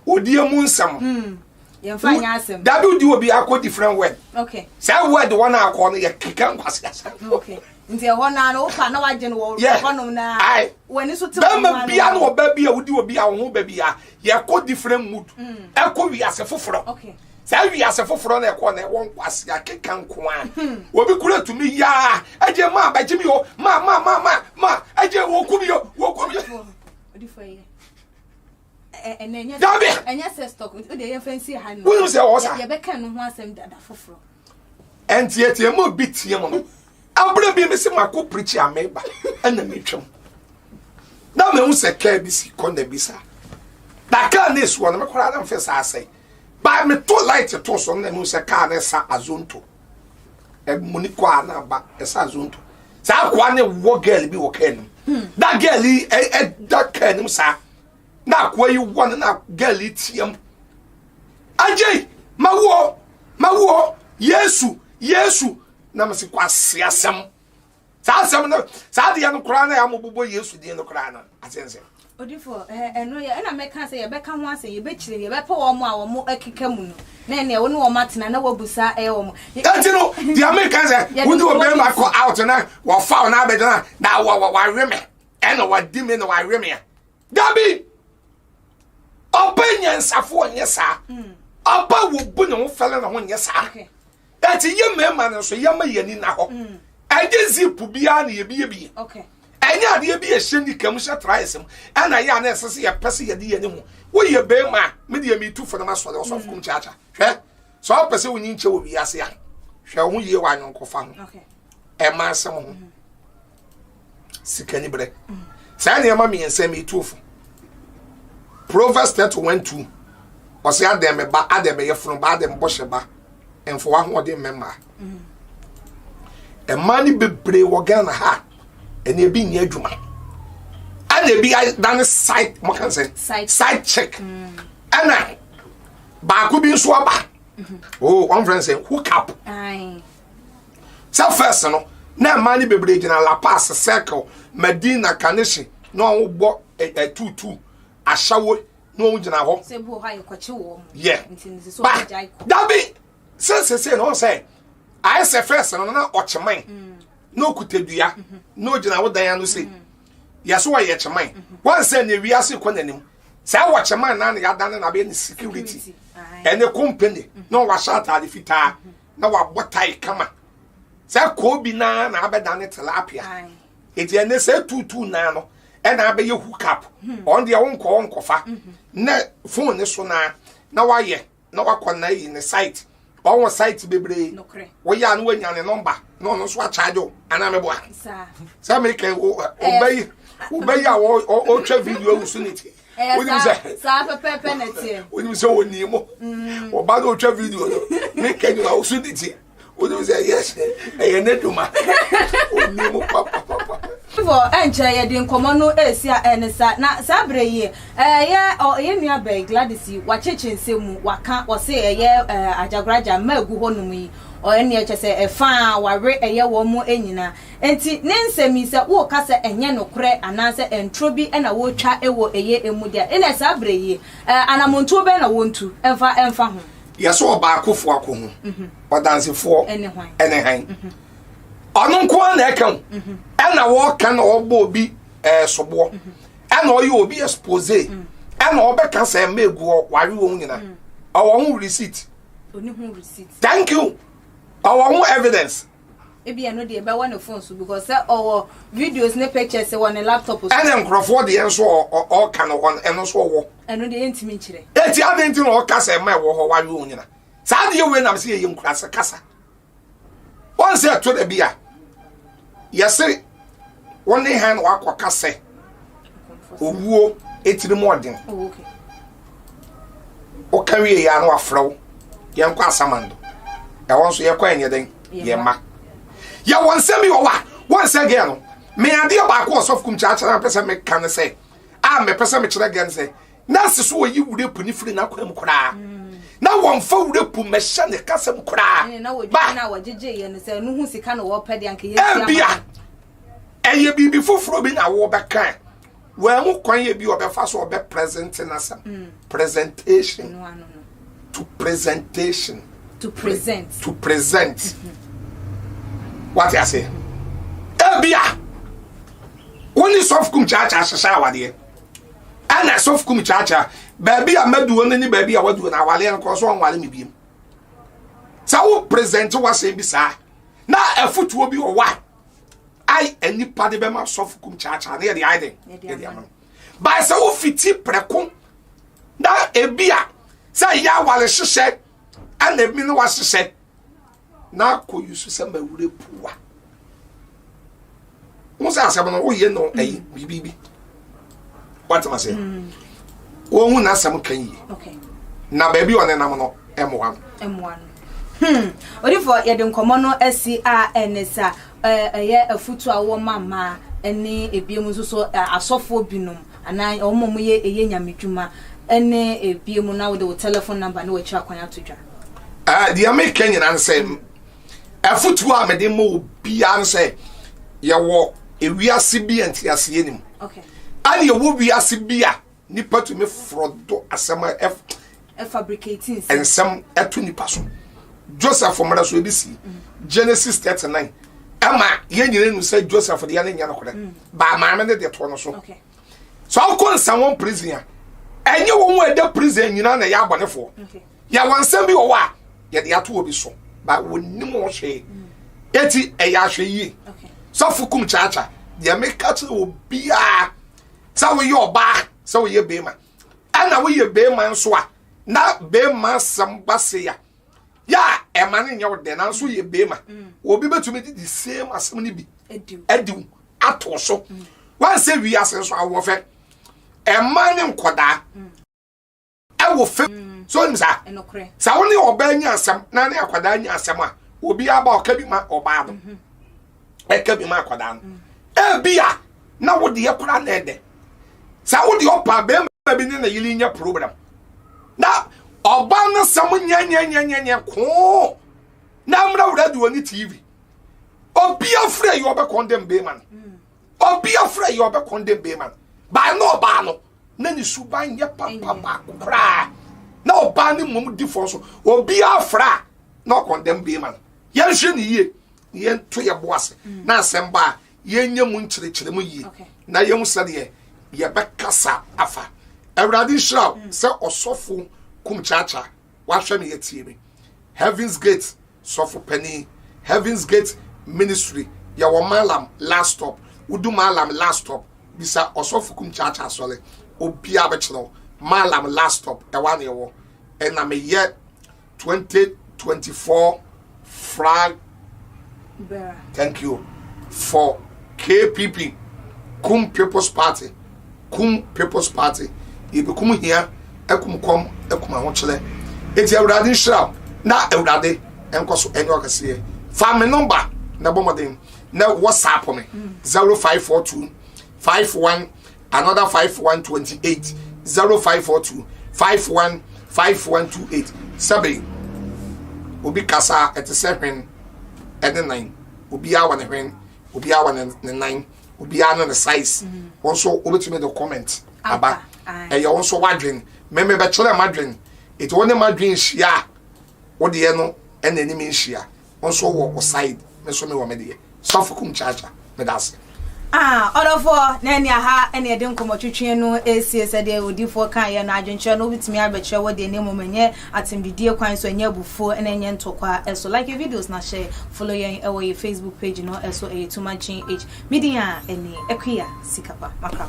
[SPEAKER 2] odie
[SPEAKER 1] mu nsɛm mm. yɛmfa nyɛ
[SPEAKER 2] asɛm dabi wodi obi akɔ
[SPEAKER 1] different word okay saa word
[SPEAKER 2] wɔn na
[SPEAKER 1] akɔ no yɛ keka nkwasi asɛm okay nti ɛhɔ
[SPEAKER 2] naa no wopa na wagye no wɔ hɔnom na w'ani so te wɔn ma no bɛma bia na ɔba
[SPEAKER 1] bi a wodi obi a ɔho ba bi a yɛkɔ different mood mm. ɛkɔ wiase foforɔ okay saa
[SPEAKER 2] wiase foforɔ
[SPEAKER 1] na ɛkɔ na ɛwɔ nkwasi akeka nkoa hmm. obi kura tumi yaa ɛgye maa bɛgye mi o maa maa maa maa maa ɛgye wɔkɔ mi o wɔkɔ mi o.
[SPEAKER 2] dabi wonim sɛ ɔwɔ saa ɛnteɛteɛ
[SPEAKER 1] ma obi teɛ mu no abere bi me se mako pirikyi ameba ɛna metwam na mehu sɛ kaa bi si kɔ na bi saa na kaa ne esuo no mekora na mfɛ saa sɛ baa meto light to so na mehu sɛ kaa ne sa azonto ɛmuni kɔ a na aba ɛsa azonto saa akoa ne wɔ gɛl bi wɔ kaa nim hmm. da gɛl yi ɛda kaa nim saa na akoa yi wɔ no na girl yi team agye mawoɔ mawoɔ yesu yesu na mese kwase asɛm saa asɛm no saa deɛ no koraa na yɛamobobɔ yesu deɛ no koraa no asɛnsɛ odifo
[SPEAKER 2] ɛno yɛ ɛna mɛka sɛ yɛbɛka ho asɛ yɛbɛkyerɛ yɛbɛpɛ wɔn a wɔn akeka mu no na ɛnna ɛwɔ ne wɔn atena na wɔabu saa ɛyɛ wɔn. ɛnti no deɛ
[SPEAKER 1] meka sɛ wode ɔbɛrima kɔ out na wɔfa wo na abɛgyina na wɔwe me ɛna wadi me na wawe me a dabi ɔba nyansafo ɔnyɛ saa hmm. ɔba wobu ne ho fɛle ne ho nyɛ saa ɛti yɛ mmarima no nso yɛma yɛ ani na hɔ hmm. ɛgye zip biara na yɛbiyebie ɛnyɛ
[SPEAKER 2] adeɛ bi
[SPEAKER 1] ɛhyɛ nika mu hyɛ traes mu ɛna yɛ a na ɛsɛ sɛ yɛpɛ sɛ yɛde yɛ ne ho woyɛ bɛrima a medeɛ metu fo no masɔre ɔsɔfo kom kyaakya hwɛ sɛ ɔpɛ sɛ wonyi nkyɛ wɔ wiase a hwɛ wo ho yie wɔ anyɔnkofa ho ɛma
[SPEAKER 2] asɛm
[SPEAKER 1] ho mm-hmm. sika ni berɛ saa nneɛma mmiɛnsa mi tuo fo proverbs thirty one two ɔsɛ adɛn mɛ ba adɛn mɛ yɛ funu ba adɛn bɔ hyɛ ba nfo ahoɔden mɛ mmaa mmaa ni bebree wɔ ghana ha ɛna ebi nyɛ adwuma ɛna ebi adane side mo kan sɛ side check ɛna baako bi nso aba o wɔn fɛn sɛ hook up. Aye. sɛ fɛs no na mmaa no bebree gyina la paz circle medina kaneshi na wɔn bɔ ɛtutu ahyɛwo na wɔn gyina hɔ
[SPEAKER 2] yɛ
[SPEAKER 1] ba
[SPEAKER 2] dabi sɛ
[SPEAKER 1] sese na wɔn sɛ ayɛ sɛ fɛs no na ɔkyeman mm. na okuta dua mm-hmm. na ogyina wo dan ano se mm. yɛso wɔyɛ kyeman mm-hmm. wɔn sɛ na ewiase kɔ n'anim sɛ ɛwɔ kyeman na na yɛadane na abɛyɛ ne security ɛne company na wɔahyɛ ataade fitaa. na wabɔ tae kama sɛ koobi naa na abɛdane tilapia eti ɛnɛ sɛ tuutuu naa no ɛna abɛyɛ hook up hmm. ɔn deɛ wonkɔ wonkɔfa mhm. na fon ne so naa na wayɛ na wakɔ na ayi ne site ɔwɔ site bebree woyɛ a na wanya ne nɔmba na ɔno nso akyagye wo anaa meboa sɛ meka wobɛyi wobɛyi a ɔtwa video awu so ne ti wonim sɛ saa pɛpɛpɛ
[SPEAKER 2] na teɛ wonim sɛ wɔnii mo
[SPEAKER 1] ɔba no ɔtwa video no ne kɛnyim a woso de ti wonim sɛ ɛyɛ ɛyɛ ne doma ɔnii mo papapapa fo
[SPEAKER 2] ɛnkyɛ yɛde nkɔmmɔ no ɛsi a ɛne sa na saa berɛ yi ɛyɛ ɔyɛ nua bɛn Gladys yi wakyekye nsɛm mu waka ɔse ɛyɛ agyagoraja mma ɛgu hɔ nom yi ɔyɛ neɛ kyɛ sɛ ɛfaa wawe ɛyɛ wɔn mu nyinaa Enti ne nsɛm yi, sɛ woka sɛ ɛnyɛ nokorɛ anaasɛ ntoro bi na wɔretwa wɔ ɛyɛ mu de a, ɛnneɛ saa berɛ yi, anammɔntuo bɛn na wɔntu mfa mfa ho? Yɛ sɛ ɔbaakofoɔ
[SPEAKER 1] ako ho ɔdansefoɔ ne hann. Ɔno nko ara na ɛka o, ɛna wɔka na ɔbɔ obi soboɔ, ɛna ɔyɛ obi expose, ɛna ɔbɛka sɛ mma egu hɔ, ware wɔn nyina. Ɔwɔ ho receipt.
[SPEAKER 2] Thank you.
[SPEAKER 1] Ɔwɔ ho evidence. ebi ɛno deɛ
[SPEAKER 2] ɛbɛwɔ ne phone so because sɛ ɔwɔ videos ne pictures wɔ ne laptop so. ɛna nkurɔfoɔ deɛ nso
[SPEAKER 1] ɔka no hɔ no ɛno nso
[SPEAKER 2] ɔwɔ.
[SPEAKER 1] ɛno deɛ ɛntumi
[SPEAKER 2] nkyerɛ.
[SPEAKER 1] eti adi nti na
[SPEAKER 2] ɔka
[SPEAKER 1] sɛ ɛma ɛwɔ hɔ wawe wɔn nyina saa adeɛ wei nam sɛ yɛyɛ nkurase kasa wɔn sɛ ɛtɔ da bi a yɛse Wo ne hɛn na wɔakɔka sɛ owuo etsirmuɔden. Woka wie yɛ a na wɔafrɛ wo yɛnkɔ asamando. Ɛhɔ nso yɛkɔ yɛnyɛ dɛn? Yɛn mma. Yɛwɔ nsɛm bi wɔ hɔ a wɔnsɛ gɛɛ no. Me adeɛ baako ɔsɔfo kum kyerɛkyerɛ a mepɛ sɛ meka ne sɛ a mepɛ sɛ mekyerɛ gɛɛ no sɛ na ase so wɔyi wura puni firi n'akwan mu koraa mm. na wɔmfa wura pu mmɛhyɛ ne kasa mu
[SPEAKER 2] koraa ebia
[SPEAKER 1] ɛyɛ biribi foforɔ bi na wɔbɛka wɔn mu kwan yɛ bi ɔbɛfa so ɔbɛ presente n'asɛm mm. presentation to presentation to present
[SPEAKER 2] to present
[SPEAKER 1] mm-hmm. wate ase ebia wɔn ni sɔfkum kyaakyaa hyehyɛ awadeɛ. ɛna ɛsɔfo kum kyaakyaa baabi a maduo no ne baabi a waduo no awale no korɔ so ɔnwale me biem sɛ wo present wasɛm bi saa na afotuo bi wɔ hɔ a ai nnipa de bɛma sɔfo kum kyaakyaa ne yɛde ayɛ dɛn yɛde ama no bae sɛ wofiti prɛko na ebi a sɛ ɛyɛ awale hyehyɛ ɛna ebi no wahyehyɛ na akɔ yi so sɛ mawura puwa mo sɛ asɛm no woyɛ no ɛyi biribi bi watema sɛ mm. wɔhu n'asɛm ka yie na baabi a ɔnenam no ɛmoa no hmm.
[SPEAKER 2] odifoɔ yɛde nkɔmmɔ no asi a ɛne sa ɛyɛ afutu a wɔma mmaa ne ebiom nso so asɔfoɔ binom Anaa wɔn a wɔyɛ ɛyɛ nyamedwuma ne ɛbie mu na wode wo telephone number ne wakyira kwan ato dwa. Uh, deɛ meka
[SPEAKER 1] nyina ne sɛ afotuo a mede ma obiara ne sɛ yɛwɔ ewiase bi a nteaseɛ nim ɛne
[SPEAKER 2] yɛwɔ
[SPEAKER 1] wiase bi a nipa tumi forɔ do asɛm
[SPEAKER 2] nsɛm
[SPEAKER 1] to nipa so joseph mmara so ebi si mm. genesis thirty nine ɛma yɛn nyinaa nu sɛ joseph deɛ ne nyɛ nokorɛ mm. baa maame ne deɛ toɔ no so sɛ
[SPEAKER 2] ɔkɔ
[SPEAKER 1] nsɛm wɔn prison a ɛnyɛ wɔn a ɛda prison nyinaa na ɛyɛ abɔnefoɔ yɛ wɔn
[SPEAKER 2] nsɛm bi wɔ
[SPEAKER 1] hɔ a yɛde ato obi so ba wɔnim wɔn hwee mm. eti ɛyɛ ahwɛ yie sɔfo kum
[SPEAKER 2] kyaakya
[SPEAKER 1] deɛ meka kyerɛ obiara sɛ woyɛ ɔbaa sɛ woyɛ bɛrima ɛna woyɛ bɛrima nso a na bɛrima asɛm ba se a yɛ a ɛma no nyɛ wo dɛ nanso yɛ bɛrima mm. obi bɛtumi de the same asɛm no bi adiw ato so mm. wansɛ wi ase nso awoɔ fɛ ɛma ne nkɔdaa mm. ɛwɔ fɛ so nim saa sɛ wo ne
[SPEAKER 2] ɔbaa nya
[SPEAKER 1] asɛm na ne akwadaa nya asɛm a obi aba ɔka bi ma ɔbaa no mm-hmm. ɛka bi ma akwadaa no ebi a na wo deɛ koraa na ɛdɛ saa wo deɛ ɔpa bɛrima bi ne na yiri nyɛ program na ɔbaa no sɛm nyɛnyɛnyɛnyɛnyɛ koo na amena wura deɛ ɔne tv obi afrɛ yi ɔbɛkɔn dɛm bɛrima no mm. obi afrɛ yi ɔbɛkɔn dɛm bɛrima no baa na ɔbaa no na ne suban nyɛ papa baako koraa na ɔbaa ne mmom di fɔ so obiara fra a na ɔkɔndɛm bɛrima no yɛnhwɛ ne yie yɛnto yɛn bo ase mm. na asɛm ba a yɛnyɛ mu nkyerɛkyerɛ mu yie na yɛhu sɛdeɛ yɛbɛkasa afa awurade nhyira wo mm. sɛ ɔsɔfo kum kyaakyaa wahwɛ me yɛtie me heavens gate sɔfo panin heavens gate ministry yɛwɔ malam last stop wodu malam last stop bisa ɔsɔfo kum kyaakyaa sɔre obiara bɛkyerɛ wo malam last stop ɛwa ne ɛwɔ ɛna meyɛ twenty twenty four flag thank you for kpp kum people's party kum people's party yɛbɛkum hia akum kɔm akum ahokyerɛ ɛti awurade nhyira na awurade ɛnkɔ so ɛnyɛ ɔkɛseɛ fa me nɔmba na bɔ mmɔden na whatsapp me mm. zero five four two five one another five one twenty eight zero five four two five one five one two eight sɛbi obi kasa ɛte sɛ hwɛn ɛne nan obiara wɔ ne hwɛn obiara wɔ ne nan obiara ne ne size mm-hmm. wɔn nso wobɛtumi de comment aba ɛyɛ wɔn nso wadwen mɛmɛ bɛkyerɛ madwen ètò wɔn ne madwen hyia a wɔdeɛ no ɛna anim nhyia. Wo nso wɔ wo side, me nso mewɔ me deɛ. Sɔfo kum kyaakya, meda ase. Ah, ɔdɔfoɔ,
[SPEAKER 2] na ɛne aha na yɛde nkɔmmɔtwetweɛ no resie. Sɛdeɛ odiyifoɔ kaeɛ no, adwenkyerɛ no wobɛtumi abɛkyerɛ wo deɛ na mmom ɛnyɛ atɛmdidie kwan so, ɛnyɛ abufuo, na ɛnyɛ ntɔkwa so. Like yɛn videos na hyɛ follow yɛn wɔ yɛn Facebook page no so, ɛyɛ Tuma GH. Me din a ɛne Akuya Sikapa. Makra.